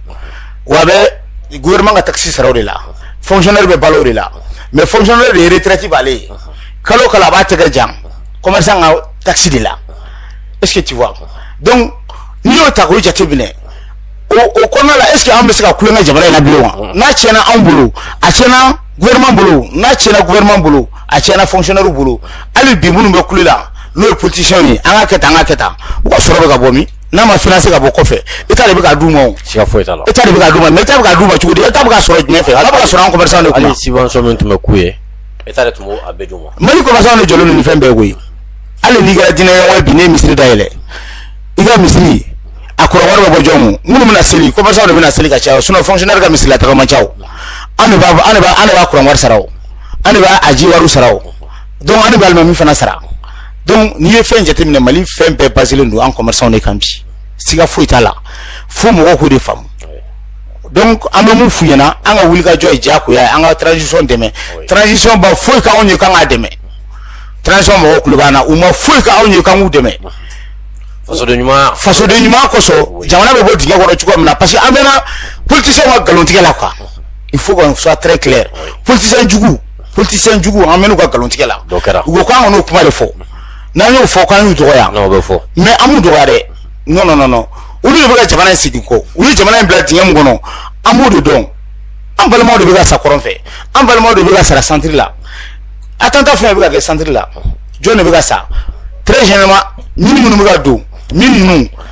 [SPEAKER 1] wa a bɛ gouvernement ka taxe sara o de la fonctionnaire bɛ balo o de la mais fonctionnaire de retraite b'ale ye kalo o kalo a b'a tɛgɛ jan commerçant ka taxe de la est ce que tu vois donc n'i y'o ta k'o jateminɛ o o kɔnɔna la est ce que an bɛ se ka tulonkɛ jamana in na bilen wa n'a tiɲɛna anw bolo a tiɲɛna gouvernement bolo n'a tiɲɛna gouvernement bolo a tiɲɛna fonctionnaire bolo hali bi minnu bɛ kule la n'o ye politiciens ye an ka kɛ tan an ka kɛ tan u ka sɔrɔ bɛ ka bɔ min n'a ma finance ka bɔ kɔfɛ état de bɛ k'a d'u ma o siga foyi t'a la état de bɛ k'a d'u ma mais état bɛ k'a d'u ma cogo di état bɛ k'a sɔrɔ jumɛn fɛ état bɛ k'a sɔrɔ an commerçant de kunna hali subvention min tun bɛ k'u ye état de tun b'o a bɛɛ d'u ma mali commerçant de jɔlen don nin fɛn bɛɛ koyi hali n'i kɛra diinɛ ɲɛmɔgɔ ye bi n'i ye misiri dayɛlɛ i ka misiri a kuran wari bɛ bɔ jɔn kun minnu bɛna seli commerçant de bɛna seli ka caya sinon fonctionnaire ka misiri la taga man ca an de b'a an de b'a an de b'a kuran wari sara o an de b'a a ji wariw sara o donc an de bɛ alimami fana sara donc n'i ye fɛn jateminɛ mali fɛn bɛɛ basilen don an commerçant de kan bi siga foyi t'a la fo mɔgɔw k'o de faamu donc an bɛ mun f'u ɲɛna an ka wulikajɔ ye diyagoya ye an ka transition dɛmɛ transition ma foyi k'anw ye k'an k'a dɛmɛ transition mɔgɔw tulo b'an na u ma foyi k'anw ye k'an k'u dɛmɛ fasoden ɲuman fasoden ɲuman kosɔn jamana bɛ bɔ dingɛ kɔnɔ cogo min na parce que an mɛɛnna politisiyɛnw ka nkalontigɛ la quoi il faut qu'on soit très clair politicien jugu politicien jugu an mɛɛnn'u ka nkalontigɛ la dɔ kɛra u ko k'an kan'o kuma de fɔ n'an y'o fɔ k'an y'u dɔgɔya non o bɛ fɔ mais an m'u dɔgɔya dɛ non non non non olu de bɛ ka jamana in segin kɔ u ye jamana in bila dingɛ min kɔnɔ an b'o de dɔn an balimaw de bɛ ka sa kɔrɔn fɛ an balimaw de bɛ ka sa centre la attentat fɛn bɛ ka kɛ centre la jɔn de bɛ ka sa très généralement mine minnu bɛ ka don minnu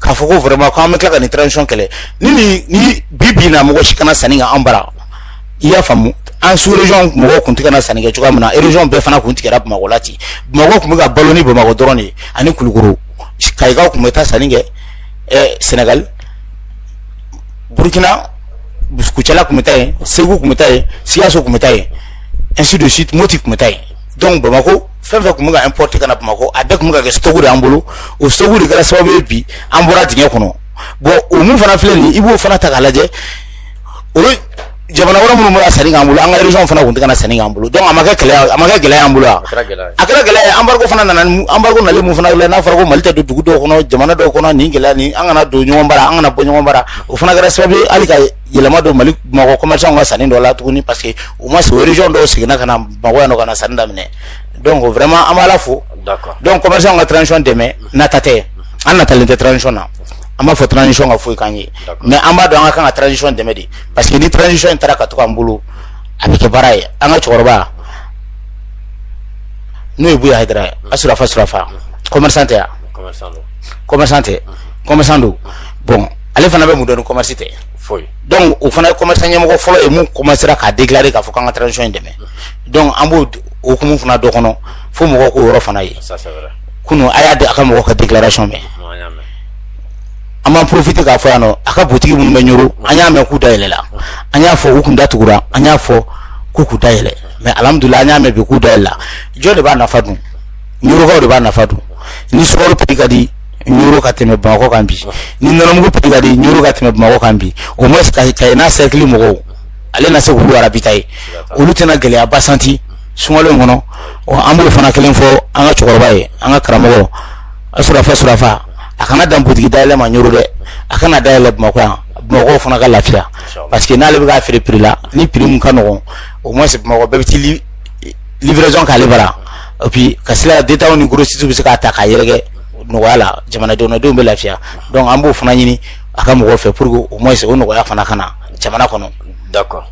[SPEAKER 1] k'a fɔ ko vraiment ko an bɛ tila ka nin transition kɛlɛ ni nin ni bi bi in na mɔgɔ si kana sanni kɛ an bara i y'a faamu an sous région mɔgɔw kun tɛ ka na sanni kɛ cogoya min na région bɛɛ fana kun tigɛra bamakɔ la ten bamakɔ kun bɛ ka balo ni bamakɔ dɔrɔn de ye ani kulukoro kayikaw kun bɛ taa sanni kɛ ɛɛ senegal burkina kucala kun bɛ taa yen segu kun bɛ taa yen sikaso kun bɛ taa yen ainsi de suite moti kun bɛ taa yen donc bamakɔ fɛn fɛn tun bɛ ka importer ka na Bamakɔ a bɛɛ tun bɛ ka kɛ stock de y'an bolo o stock de kɛra sababu ye bi an bɔra dingɛ kɔnɔ bon o mun fana filɛ nin ye i b'o fana ta k'a lajɛ o ye jamana wɛrɛ minnu bɛ ka sanni k'an bolo an ka région fana tun tɛ ka na sanni k'an bolo donc a ma kɛ gɛlɛya a ma kɛ gɛlɛya y'an bolo wa a kɛra gɛlɛya ye embargo fana nana ni embargo nalen mun fana filɛ n'a fɔra ko Mali tɛ don dugu dɔw kɔnɔ jamana dɔw kɔnɔ nin gɛlɛya nin an kana don ɲɔgɔn bara an kana bɔ ɲɔgɔn bara o fana kɛra sababu ye hali ka yɛlɛma don mali bamakɔ commerçant ka sanni dɔ la tuguni parce que au moins sous région dɔw seginna ka na bamakɔ yan ka na sanni daminɛ donc vraiment an b'a la fo donc commerçant ka transition dɛmɛ nata tɛ an natalen tɛ transition na an m'a fɔ transition ka foyi k'an ye mais an b'a dɔn an ka kan ka transition dɛmɛ de parce que ni transition in taara ka to k'an bolo a bɛ kɛ baara ye an ka cɛkɔrɔba n'o ye buya hayidara ye a surafa surafa commerçant tɛ yan commerçant tɛ commerçant don bon ale fana bɛ mun dɔn ni commerce tɛ foyi donc o fana ye commerce ɲɛmɔgɔ fɔlɔ ye mun commencera k'a déclarer k'a fɔ k'an ka transition in dɛmɛ donc an b'o hukumu fana de kɔnɔ fo mɔgɔw k'o yɔrɔ fana ye ça c'est vrai kunu a y'a di a ka mɔgɔ ka déclaration mɛn non an y'a mɛn an b'an profiter k'a fɔ yan nɔ a ka butigi minnu bɛ ɲoro an y'a mɛn k'u dayɛlɛla an y'a fɔ u kun datugura an y'a fɔ k'u k'u dayɛlɛ mais alhamdulillah an y'a mɛn bi k'u dayɛlɛla jɔn de b'a nafa dun ɲorokaw de b'a nafa dun ni sukaro prix ka di ɲoro ka tɛmɛ bamakɔ kan bi ni nɔnɔmugu prix ka di ɲoro ka tɛmɛ bamakɔ kan bi au moins kayes n'a cercle mɔgɔw ale na se k'olu ravitailler olu tɛna gɛlɛyaba sentir sunkalo in kɔnɔ ɔ an b'o fana kelen fɔ an ka cɛkɔrɔba ye an ka karamɔgɔ surafa surafa a kana dan butigi dayɛlɛ ma ɲoro dɛ a ka na dayɛlɛ bamakɔ yan bamakɔ fana ka lafiya parce que n'ale bɛ k'a feere prix la ni prix mun ka nɔgɔn au moins bamakɔ bɛɛ bɛ taa li- livraison k'ale bara et puis ka sira détaillants ni grossistes bɛ se k'a ta k'a yɛrɛkɛ nɔgɔya la jamanadenw bɛ lafiya donc an b'o fana ɲini an karamɔgɔ fɛ pour qu'au moins o nɔgɔya fana ka na jamana kɔnɔ d'accord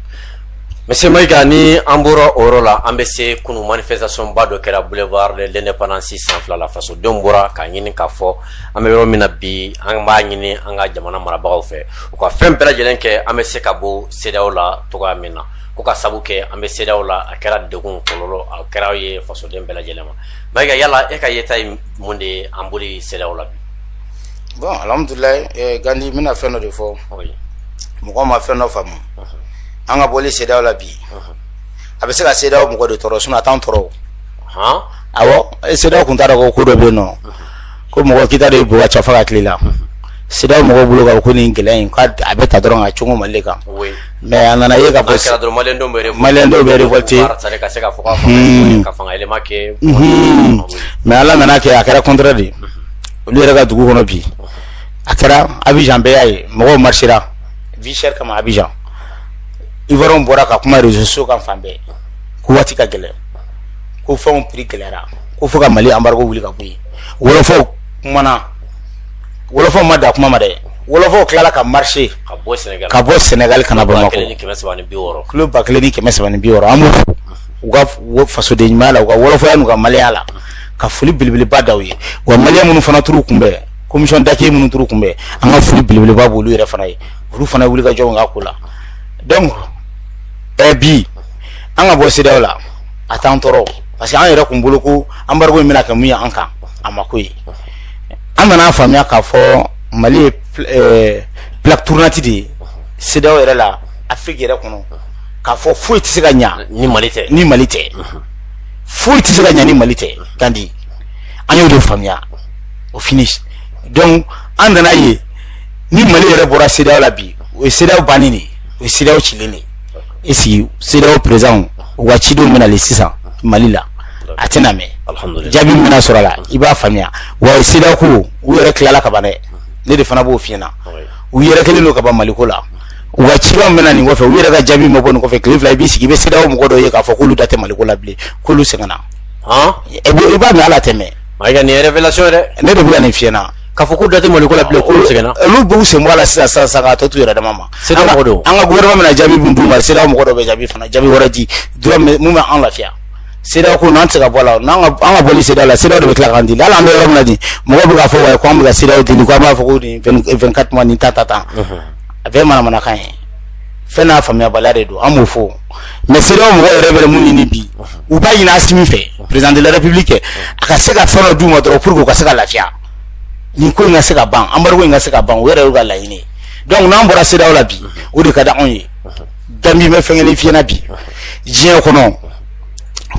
[SPEAKER 1] monsieur mayiga ni an bɔra o yɔrɔ la an bɛ se kunun manifestationba dɔ kɛra boulevard de l'indépendance sanfɛla fasodenw bɔra k'a ɲini k'a fɔ an bɛ yɔrɔ min na bi an b'a ɲini an ka jamana marabagaw fɛ u ka fɛn bɛɛ lajɛlen kɛ an bɛ se ka bɔ CEDEAO la dɔgɔya min na k'o k'a sabu kɛ an bɛ CEDEAO la a kɛra degun kɔlɔlɔ a kɛra ye fasoden bɛɛ lajɛlen ma Mayiga yala e ka yeta ye mun de ye an bɔli CEDEAO la bi? Bon alhamudulayi ɛɛ Gandi n bɛna fɛn dɔ de fɔ. Oui. Mɔgɔw ma fɛn dɔ faamu. Unhun. An ka bɔli CEDEAO la bi. Unhun. A bɛ se ka CEDEAO mɔgɔ de tɔɔrɔ sinon a t'anw tɔɔrɔ o. Han? Awɔ CEDEAO tun t'a dɔn ko ko dɔ bɛ yen nɔ. Unhun. ko mɔgɔ kita de bug cɛfa ka tile la sira mɔgɔ bolo kan ko nin gɛlɛya in a bɛ ta dɔrɔn ka cogo mali kan mais a nana ye ka bɔte mais ala nana kɛ a kɛra kɔnte de olu yɛrɛ ka dugu kɔnɔ bi a kɛra abidjan bɛɛ y'a ye mɔgɔw marchera vi kama abidjan u bɔra ka kuma réseaux sociaux kan fan bɛɛ ko waati ka gɛlɛya ko fɛnw prix gɛlɛyara ko fo ka mali embargo wuli ka bɔ yen wolofɔw kumana wolofɔw ma dan kuma ma dɛ wolofɔw tilala ka marcher ka bɔ Sénégal ka bɔ Sénégal ka na Bamakɔ kilo ba kelen ni kɛmɛ saba ni bi wɔɔrɔ an b'u fo u ka fasoden ɲumanya la u ka wolofɔya n'u ka maliyɛnya la ka foli belebeleba da u ye wa maliyɛn minnu fana taar'u kunbɛn commission d'accueil minnu taar'u kunbɛn an ka foli belebeleba b'olu yɛrɛ fana ye olu fana wuli ka jɔ u ka ko la donc ɛɛ bi an ka bɔ CEDEAO la a t'an tɔɔrɔ parce que an yɛrɛ kun bolo ko anbarigo in bɛna kɛ mun ye an kan a ma k'o ye an nana a faamuya k'a fɔ mali ye eh, plaque tournante de ye CEDEAO yɛrɛ la afiriki yɛrɛ kɔnɔ k'a fɔ foyi tɛ se ka ɲa ni mali tɛ ni mali tɛ foyi tɛ se ka ɲa ni mali tɛ gandi an y'o de faamuya au finish donc an nana a ye ni mali yɛrɛ bɔra CEDEAO la bi o ye CEDEAO bannen de ye o ye CEDEAO cilen de ye e sigi CEDEAO présidentw ka cidenw bɛ nali sisan mali la a tɛna mɛn jaabi bɛna sɔrɔ a la i b'a faamuya wa ye se ko u yɛrɛ tilala ka ban dɛ ne de fana b'o fiɲɛna u yɛrɛ kelen don ka ban maliko la u ka ci bɛna nin kɔfɛ u yɛrɛ ka jaabi ma bɔ nin kɔfɛ tile fila i b'i sigi i bɛ CEDEAO mɔgɔ dɔ ye k'a fɔ k'olu da tɛ maliko la bilen k'olu sɛgɛnna i b'a min ala tɛmɛ ne de bɛ nin fiɲɛna Ka fɔ k'u da tɛ Maliko la bilen k'olu sɛgɛnna ɛ olu b'u sen bɔ a la sisan sisan sisan k'a tɔ t'u yɛrɛ dama ma CEDEAO mɔgɔ don an ka gouvernement bɛna jaabi min d'u ma CEDEAO mɔgɔ dɔ bɛ jaabi fana jaabi wɛrɛ di dɔrɔn min min bɛ an lafiya CEDEAO ko nin an tɛ se ka bɔ a la n'an ka an ka bɔ nin CEDEAO la CEDEAO de bɛ tila k'an deli hali an bɛ yɔrɔ min na nin mɔgɔw bɛ k'a fɔ wayi ko an bɛ ka CEDEAO deli ko an b'a fɔ ko nin 20 24 mois nin ta ta ta a bɛɛ ye manamanakan ye. fɛn n'a faamuyabaliya de don an b'o fɔ mais CEDEAO mɔgɔ yɛrɛ bɛ mun ɲini bi u b'a ɲini asimi fɛ président de la république a ka se ka fɛn dɔ d'u ma dɔrɔn pour que u ka se ka lafiya nin ko in ka se ka ban embargo in ka se ka ban o yɛrɛ y'u ka laɲini ye donc n'an bɔra CEDEAO la bi o de ka di anw ye gandi bɛ fɛn kelen fiyɛna bi diɲɛ kɔnɔ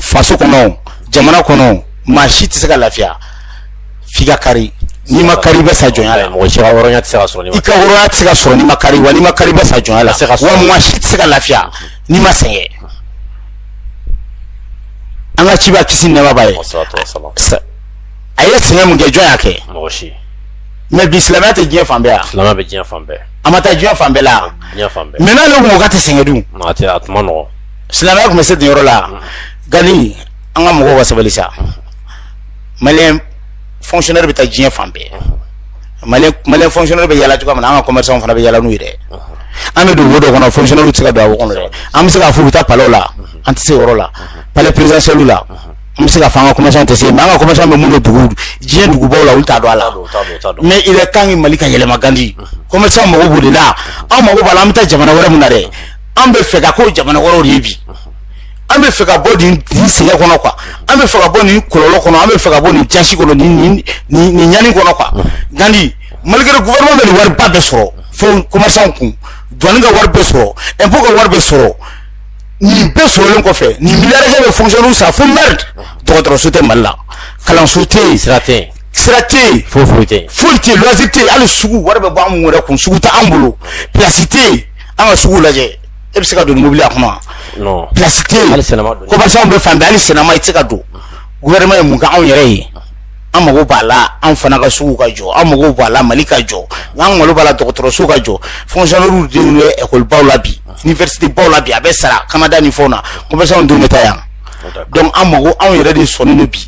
[SPEAKER 1] faso kɔnɔ jamana kɔnɔ maa si tɛ se ka lafiya f'i ka kari n'i ma kari i bɛ sa jɔnya la mɔgɔ hɔrɔnya tɛ se ka sɔrɔ n'i ma kari wa n'i ma kari i bɛ sa jɔnya la se ka maa si tɛ se ka lafiya n'i ma sɛgɛn an ka kira kisi ni nɛɛma b'a ye a ye sɛgɛn mun kɛ jɔn y'a kɛ mais bi silamɛya tɛ diɲɛ fan yan silamɛ bɛ diɲɛ fan bɛɛ a ma taa diɲɛ fan bɛɛ la diɲɛ fan bɛɛ mais n'ale kun ko k'a tɛ sɛgɛn dun a tɛ a tuma nɔgɔ silamɛya tun bɛ se nin yɔrɔ la gandi an ka mɔgɔw ka sabali sa malien fonctionnaire bɛ taa diɲɛ fan bɛɛ malien malien fonctionnaire bɛ yala cogoya min na an ka commerçant fana bɛ yala n'u ye dɛ an bɛ don wo dɔ kɔnɔ fonctionnaire tɛ se ka don a wo kɔnɔ dɛ an bɛ se k'a fɔ u bɛ taa palais la an tɛ se yɔrɔ la palais présidentiel la an bɛ se k'a fɔ an ka commerçant tɛ se yen mais an ka commerçant bɛ mun dɔn dugu diɲɛ dugubaw la olu t'a dɔn a la mais il est temps que Mali ka yɛlɛma gandi commerçant mago b'o de la an mago b'a la an bɛ taa jamana wɛrɛ min na dɛ an b'a fɛ ka k'o jamana wɛrɛw de ye bi. an b'a fɛ ka bɔ nin nin sɛgɛn kɔnɔ quoi an b'a fɛ ka bɔ nin kɔlɔlɔ kɔnɔ an b'a fɛ ka bɔ nin jasi kɔnɔ nin nin nin nin ɲani kɔnɔ quoi gandi malgré gouvernement bɛ nin wariba bɛɛ sɔrɔ fɛn commerçant kun douane ka wari bɛɛ sɔrɔ impôt ka wari bɛɛ sɔrɔ nin bɛɛ sɔrɔlen kɔfɛ nin milliardaire bɛɛ fonctionnaire sa fo merde dɔgɔtɔrɔso tɛ Mali la kalanso tɛ yen sira tɛ yen sira tɛ yen foyi foyi tɛ yen foyi tɛ yen loisir tɛ yen hali sugu wari bɛ bɔ an mun yɛrɛ kun sugu tɛ an bolo place tɛ yen an ka sugu lajɛ e bɛ se ka don mobili la kuma plasi tɛ yen commerçant bɛ fan bɛɛ hali sinama i tɛ se ka don vraiment ye mun ka anw yɛrɛ ye an mago b'a la an fana ka sugu ka jɔ an mago b'a la mali ka jɔ an mago b'a la dɔgɔtɔrɔso ka jɔ fɔnkisɔnɛriw denw bɛ ɛkɔlibaw la bi iniwɛrisitebaw la bi a bɛ sara kanada ni fɛnw na commerçantw denw bɛ taa yan donc an mago anw yɛrɛ de sɔnnen don bi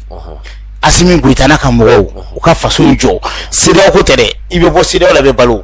[SPEAKER 1] asimi goyita n'a ka mɔgɔw u ka faso jɔ seereya ko tɛ dɛ i bɛ bɔ seereya la bɛ balo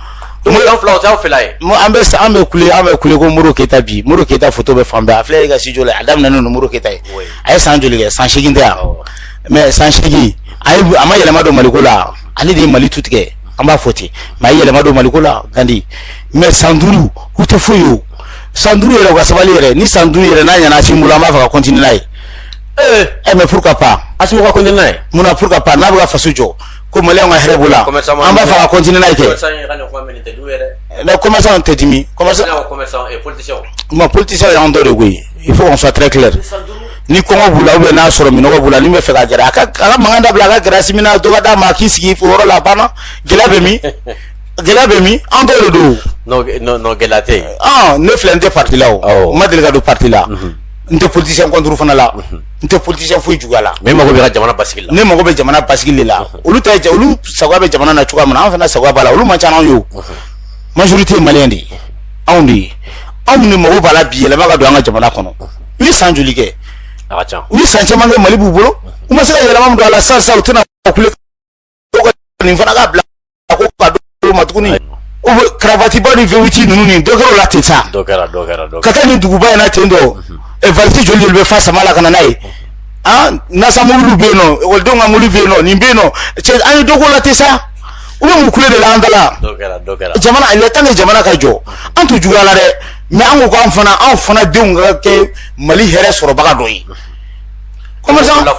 [SPEAKER 1] Moriba filaw tɛ aw fila ye. Mo an bɛ sa an bɛ kule an bɛ kule ko Modibo Keyita bi Modibo Keyita foto bɛ fan bɛɛ a filɛ e ka studio la a daminɛnen don Modibo Keyita ye oui. a ye san joli kɛ san seegin tɛ yan mais san seegin a ye a ma yɛlɛma don Maliko la ale de ye Mali tu tigɛ an b'a fɔ ten mais a ye yɛlɛma don Maliko la Gandi mais san duuru u tɛ foyi ye o san duuru yɛrɛ u ka sabali yɛrɛ ni san duuru yɛrɛ n'a ɲɛna Asimi bolo an b'a fɛ ka continuer n'a ye. Ee! Eh mais pourquoi pas? Asimi ka continuer n'a ye? Mun na pourquoi pas n'a bɛ ka faso jɔ ko mali ka hɛrɛ b'o la an b'a fɛ ka continuer n'a ye kɛ ne commerçant tɛ dimi commerçant ma politicien y'an dɔ de koyi il faut qu'on soit très clair ni kɔngɔ b'u la n'a sɔrɔ minnɔgɔ b'u la n'i b'a fɛ ka gɛrɛ a ka mankan dabila a ka gɛrɛ asimi na dɔ ka d'a ma a k'i sigi o yɔrɔ la a banna gɛlɛya bɛ min gɛlɛya bɛ min an dɔ de don o gɛlɛya tɛ yen ne filɛ n tɛ parti la o n ma deli ka don parti la n tɛ politicien contre fana la n tɛ politicien foyi juguya la ne mago bɛ n ka jamana basigi la ne mago bɛ jamana basigi de la olu ta ye olu sagoya bɛ jamana na cogoya min na an fana sagoya b'a la olu man ca n'anw ye o majorité ye maliyɛn de ye anw de ye anw de mago b'a la bi yɛlɛma ka don an ka jamana kɔnɔ u ye san joli kɛ u ye san caman kɛ mali b'u bolo u ma se ka yɛlɛma min don a la sisan sisan u tɛna kule nin fana ka bila ko ka dɔ ma tuguni o bɛ karavatiba ni vewiti ninnu nin dɔ kɛra o la ten sa ka taa nin duguba in na ten dɔ valisi joli joli bɛ fa sama la ka na n'a ye an nasa mobili bɛ yen nɔ ekɔlidenw ka mobili bɛ yen nɔ nin bɛ yen nɔ cɛ an ye dɔ k'o la ten sa u bɛ mun kule de la an da la jamana il est temps que jamana ka jɔ an t'u juguya la dɛ mais an ko k'an fana anw fana denw ka kɛ mali hɛrɛ sɔrɔbaga dɔ ye.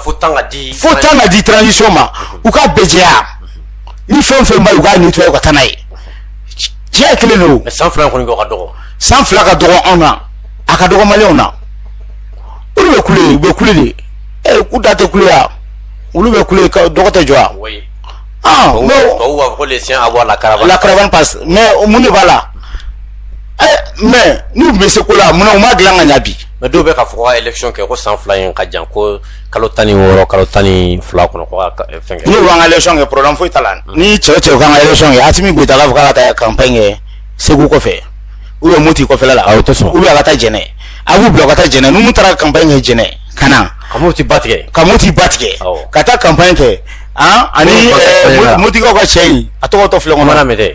[SPEAKER 1] fo temps ka di transition ma u k'a bɛɛ jɛya ni fɛn o fɛn b'a ye u k'a nettoyer u ka taa n'a ye tiɲɛ kelen don mais san fila in kɔni kɛ o ka dɔgɔ san fila ka dɔgɔ anw na a ka dɔgɔ maliyɛnw na olu bɛ kule u bɛ kule de ɛ u da tɛ kule wa olu bɛ kule ka dɔgɔ tɛ jɔ wa ah mais tubabuw b'a fɔ ko le chien aboie la caravane la caravane passe mais mun de b'a la ɛ mais n'u tun bɛ se ko la mun na u m'a dilan ka ɲɛ bi mais dɔw bɛ k'a fɔ ka election kɛ ko san fila in ka jan ko kalo tan ni wɔɔrɔ kalo tan ni fila kɔnɔ ko ka eh, fɛn kɛ n'u k'an ka election kɛ problème foyi t'a la mm. ni cɛ cɛ k'an ka election kɛ Asimi Goyita k'a fɔ k'a ka taa campagne kɛ Segu kɔfɛ ou bien Moti kɔfɛla la o tɛ sɔn ou bien a ka taa Jɛnɛ a b'u bila ka taa Jɛnɛ n'u taara campagne kɛ Jɛnɛ ka na ka Moti ba tigɛ ka Moti ba tigɛ ka taa campagne kɛ an ani Motikaw ka cɛ in a tɔgɔ tɔ filɛ kɔnɔ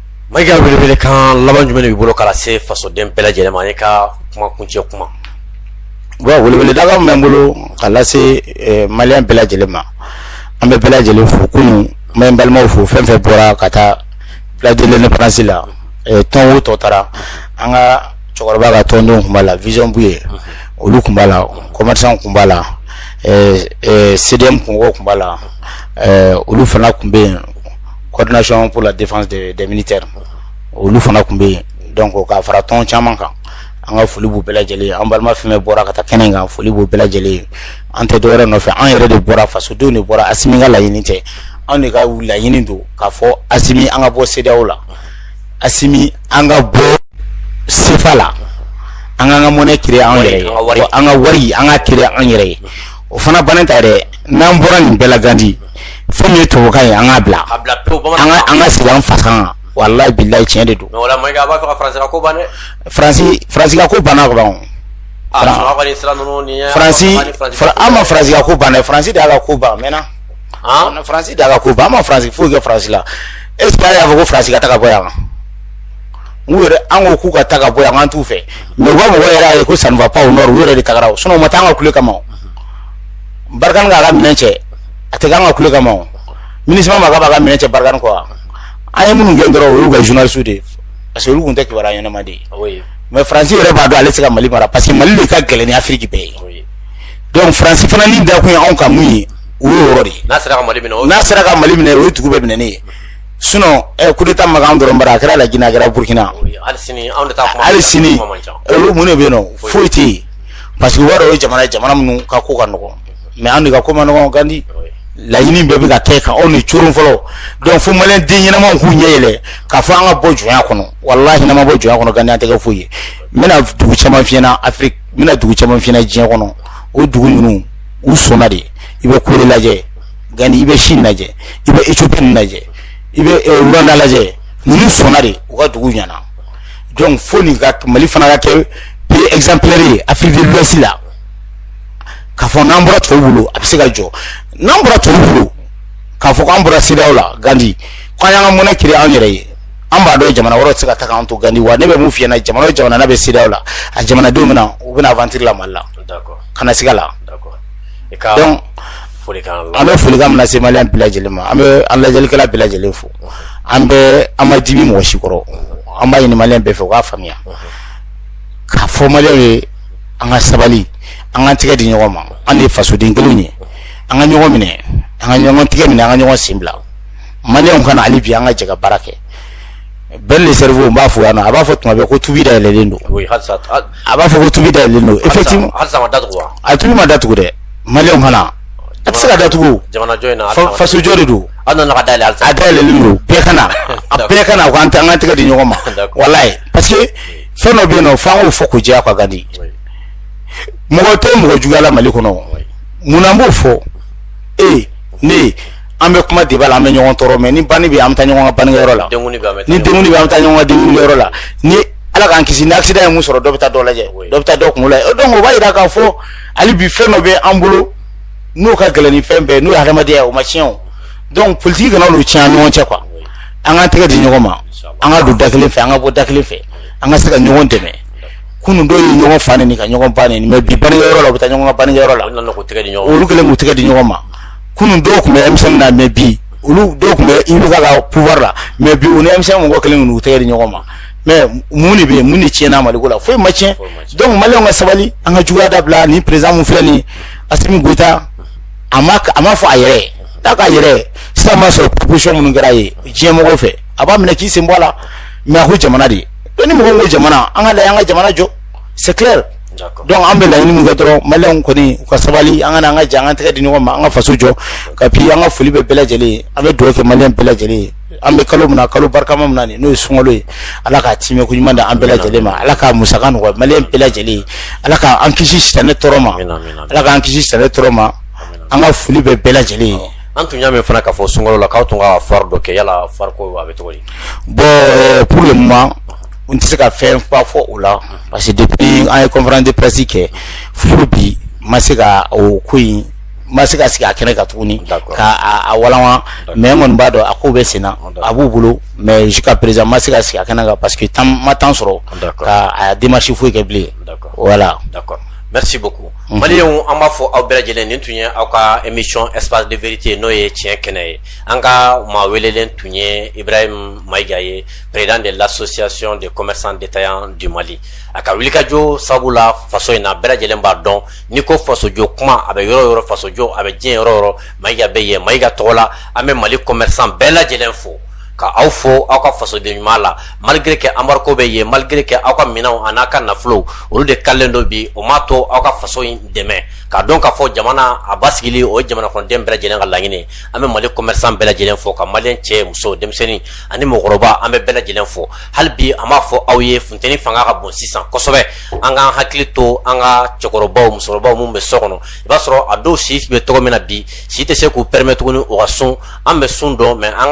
[SPEAKER 1] Mayiga welewelekan laban jumɛn b'i bolo ka lase fasoden bɛɛ lajɛlen ma an ye ka kuma kuncɛ kuma weleweledakan min bɛ n bolo ka lase eh, maliyɛn bɛɛ lajɛlen ma an bɛ bɛɛ lajɛlen fo kunun ma balimaw fo fɛn o fɛn bɔra ka taa place de l'indépendance la eh, tɔn o tɔn taara an ka cɛkɔrɔba ka tɔndenw tun b'a la vision buye olu tun b'a la kɔmɛrsan tun b'a la eh, cdm kungo tun b'a la olu fana tun bɛ yen coordination pour la défense des, des militaires olu fana tun bɛ yen donc ka fara tɔn caman kan an ka foli b'u bɛɛ lajɛlen ye an balima fɛn bɛɛ bɔra ka taa kɛnɛ kan foli b'u bɛɛ lajɛlen ye an tɛ dɔwɛrɛ nɔfɛ an yɛrɛ de bɔra fasodenw de bɔra asimi ka laɲini tɛ anw de ka laɲini don k'a fɔ asimi an ka bɔ sedeyaw la asimi an ka bɔ sefa la an k'an ka monnaie créer an yɛrɛ ye an ka wari an k'a créer an yɛrɛ ye o fana bannen ta yɛrɛ n'an bɔra nin bɛɛ la gandi Fɛn min ye to ye an ka bila an ka sigi an fasa wala bila tiɲɛ de don ko bana an ma faraya ko ban faransi de ala ko ban mɛnna faransi da ala ko ban ma faransi foyi kɛ faransi la e y'a fɔ ko faransi ka taa bɔ yan n'u yɛrɛ an ko k'u ka taa ka bɔ yan an t'u fɛ mɛ wa mɔgɔ yɛrɛ ye ko sanfa panw u yɛrɛ de taga o si ma taa an ka kule kama barikani ka a la minɛn cɛ a tɛ k'an ka kule kama o minisima ma k'a b'a ka minɛn cɛ barikani kɔ wa an ye minnu gɛn dɔrɔn o y'u ka journaliste de ye parce que olu tun tɛ kibaruya ɲɛnama di yen mais faransi yɛrɛ b'a dɔn ale tɛ se ka mali mara parce que mali de ka gɛlɛn ni afiriki bɛɛ ye donc faransi fana ɲɛ da kun ye anw kan mun ye o y'o yɔrɔ de ye n'a sera ka mali minɛ n'a sera ka mali minɛ o ye dugu bɛɛ minɛnen ye sinon ɛ coup d'état ma k'an dɔrɔn bara a kɛra lajinɛ a kɛra burkina hali sini anw de ta kuma hali sini olu mun de bɛ yen nɔ foyi tɛ yen parce que u b'a dɔn o ye jamana ye jamana minnu ka ko ka nɔgɔn mɛ an de ka ko man nɔgɔn gandi laɲini bɛɛ bɛ ka kɛ ka anw de coron fɔlɔ dɔnku fo maliden ɲɛnama k'u ɲɛ yɛlɛ k'a fɔ an ka bɔ jɔnya kɔnɔ wa n'an ma bɔ jɔnya kɔnɔ ganti an tɛ kɛ foyi ye n bɛna dugu caman fiɲɛna afiriki n bɛna dugu caman fiɲɛna diɲɛ kɔnɔ o dugu ninnu u sɔnna de i bɛ kore lajɛ gan i bɛ sini lajɛ i bɛ éthiopie lajɛ i bɛ eh, rwanda lajɛ ninnu sɔnna de u ka dugu ɲɛna dɔnku fo n'an ka mali fana ka kɛ pays exemplaire ye afrique de l'ouest la k'a fɔ n'an bɔra tɔw bolo an bɛ se ka jɔ n'an bɔra tɔw bolo k'a fɔ k'an bɔra sedeyaw la gandi k'an y'an ka monnaie créer an yɛrɛ ye an b'a dɔn jamana wɛrɛ tɛ se ka taa k'an to gandi wa ne bɛ mun fiyɛ na jamana o jamana bɛ sedeyaw la a jamanadenw bɛ na u bɛ na avantiri la mali la kana siga a la donc an bɛ folikan min lase maliyɛn bɛɛ lajɛlen ma an bɛ an lajɛlikɛla bɛɛ lajɛlen fo an bɛ an ma dimi mɔgɔ si kɔrɔ an b'a ɲini maliyɛn bɛɛ fɛ u k'a faamuya k'a fɔ maliyɛn ye an ka sabali an ka tɛgɛ di ɲɔgɔn ma an de ye fasoden kelen ye an ka ɲɔgɔn minɛ an ka ɲɔgɔn tɛgɛ minɛ an ka ɲɔgɔn sen bila maliyɛnw ka na hali bi an ka jɛ ka baara kɛ Ben le cerveau n b'a fɔ yan nɔ a b'a fɔ tuma bɛɛ ko tubi dayɛlɛlen don a b'a fɔ ko tubi dayɛlɛlen don effectivement a tubi ma datugu dɛ maliyɛnw ka na a tɛ se ka datugu fasojɔ de don a dayɛlɛlen don bɛɛ ka na a bɛɛ ka na u ka an tɛgɛ di ɲɔgɔn ma walayi parce que fɛn dɔ bɛ yen nɔ f'an k'o fɔ k'o jɛya ka kan de mɔgɔ tɛ mɔgɔ juguya la mali kɔnɔ mun na an b'o fɔ e ne an bɛ kuma débat la an bɛ ɲɔgɔn tɔɔrɔ mais ni banni bɛ an bɛ taa ɲɔgɔn ka banniyɔrɔ la ni denkundi bɛ an bɛ taa ɲɔgɔn ka denkundi yɔrɔ la ni ala k'an kisi ni accident ye min sɔrɔ dɔ bɛ taa dɔ lajɛ dɔ bɛ taa dɔ kunkolo lajɛ donc o b'a jira k'a fɔ hali bi fɛn dɔ bɛ an bolo n'o ka gɛlɛn ni fɛn bɛɛ n'o ye hadamadenya ye o ma tiɲɛ o donc politique kana olu tiɲɛ an ni ɲɔgɔn cɛ quoi an ka tɛgɛ di ɲɔgɔn ma an ka don da kelen fɛ an ka bɔ da kelen fɛ an ka se ka ɲɔgɔn dɛmɛ kunun dɔw ye ɲɔgɔn fa neni ka ɲɔgɔn ba neni mais bi bannikɛ yɔrɔ la u bɛ taa ɲɔgɔn ka bannikɛ yɔrɔ la olu kelen k'u tɛgɛ di ɲɔgɔn ma kunun dɔw tun bɛ M5 na mais bi olu dɔw tun bɛ IBK pouvoir la mais bi u ni M5 mɔgɔ kelen k'u tɛgɛ di ɲɔgɔn ma mais mun de bɛ yen mun de tiɲɛna maliko la foyi ma tiɲɛ donc maliyɛnw ka sabali an ka juguya dabila ni président min filɛ nin ye Asimi Goyita a ma a ma fɔ a yɛrɛ ye ta ka yɛrɛ sa ma sɔrɔ proposition minnu kɛra ye diɲɛ mɔgɔw fɛ a b'a minɛ k'i sen bɔ a la mais a ko jamana de ni mɔgɔ ko jamana an ka lajɛ an ka jamana jɔ c'est clair donc an bɛ laɲini min kɛ dɔrɔn maliyɛnw kɔni u ka sabali an ka na an ka jɛ an ka tɛgɛ di ɲɔgɔn ma an ka faso jɔ et puis an ka foli bɛ bɛɛ lajɛlen ye an bɛ dugawu kɛ maliyɛn bɛɛ lajɛlen ye an bɛ kalo min na kalo barikama min na nin n'o ye sunkalo ye ala k'a tiimɛ ko ɲuman di an bɛɛ lajɛlen ma ala k'a musaka nɔgɔya maliyɛn bɛɛ lajɛlen ye ala k'an kisi sitanɛ tɔɔrɔ ma ala k'an kisi sitanɛ tɔɔrɔ ma an ka foli bɛ bɛɛ lajɛlen ye an tun y'a mɛn fana k'a fɔ sunkalo la k'aw tun ka foire dɔ kɛ yala foire ko a bɛ cogo di bon euh, pour le moment n tɛ se ka fɛn ba fɔ o la parce que depuis an ye conférence de presse kɛ fo bi ma se ka o ko in ma se ka sigi a kɛnɛ kan tuguni ka a walanwa mais n kɔni b'a dɔn a ko bɛ senna a b'u bolo mais jusqu'à présent ma se ka sigi a kɛnɛ kan parce que an ma temps sɔrɔ ka a démarche foyi kɛ bilen voilà merci beaucoup Malidenw an b'aw fo aw bɛɛ lajɛlen nin tun ye aw ka émission espace de vérité n'o ye tiɲɛ kɛnɛ ye an ka maa welelen tun ye Ibrahim Maïga ye président de l'association des commerçants détaillants du Mali a ka wulikajɔ sabu la faso in na bɛɛ lajɛlen b'a dɔn ni ko fasojɔ kuma a bɛ yɔrɔ o yɔrɔ fasojɔ a bɛ diɲɛ yɔrɔ o yɔrɔ Maïga bɛ yen Maïga tɔgɔ la an bɛ mali commerçant bɛɛ lajɛlen fo Ka aw fo aw ka fasoden ɲuman la malgré que embargo bɛ yen malgré que aw ka minɛnw ani aw ka nafolo olu de kalelen don bi o m'a to aw ka faso in dɛmɛ ka dɔn k'a fɔ jamana a basigili o ye jamana kɔnɔden bɛɛ lajɛlen ka laɲini an bɛ mali commerçant bɛɛ lajɛlen fo ka malien cɛ muso denmisɛnnin ani mɔgɔkɔrɔba an bɛ bɛɛ lajɛlen fo hali bi an b'a fɔ aw ye funteni fanga ka bon sisan kosɛbɛ an k'an hakili to an ka cɛkɔrɔba musokɔrɔba minnu bɛ so kɔnɔ i b'a sɔrɔ a dɔw si bɛ tɔgɔ min na bi si tɛ se k'u permet tuguni u ka sun an bɛ sun dɔn mɛ an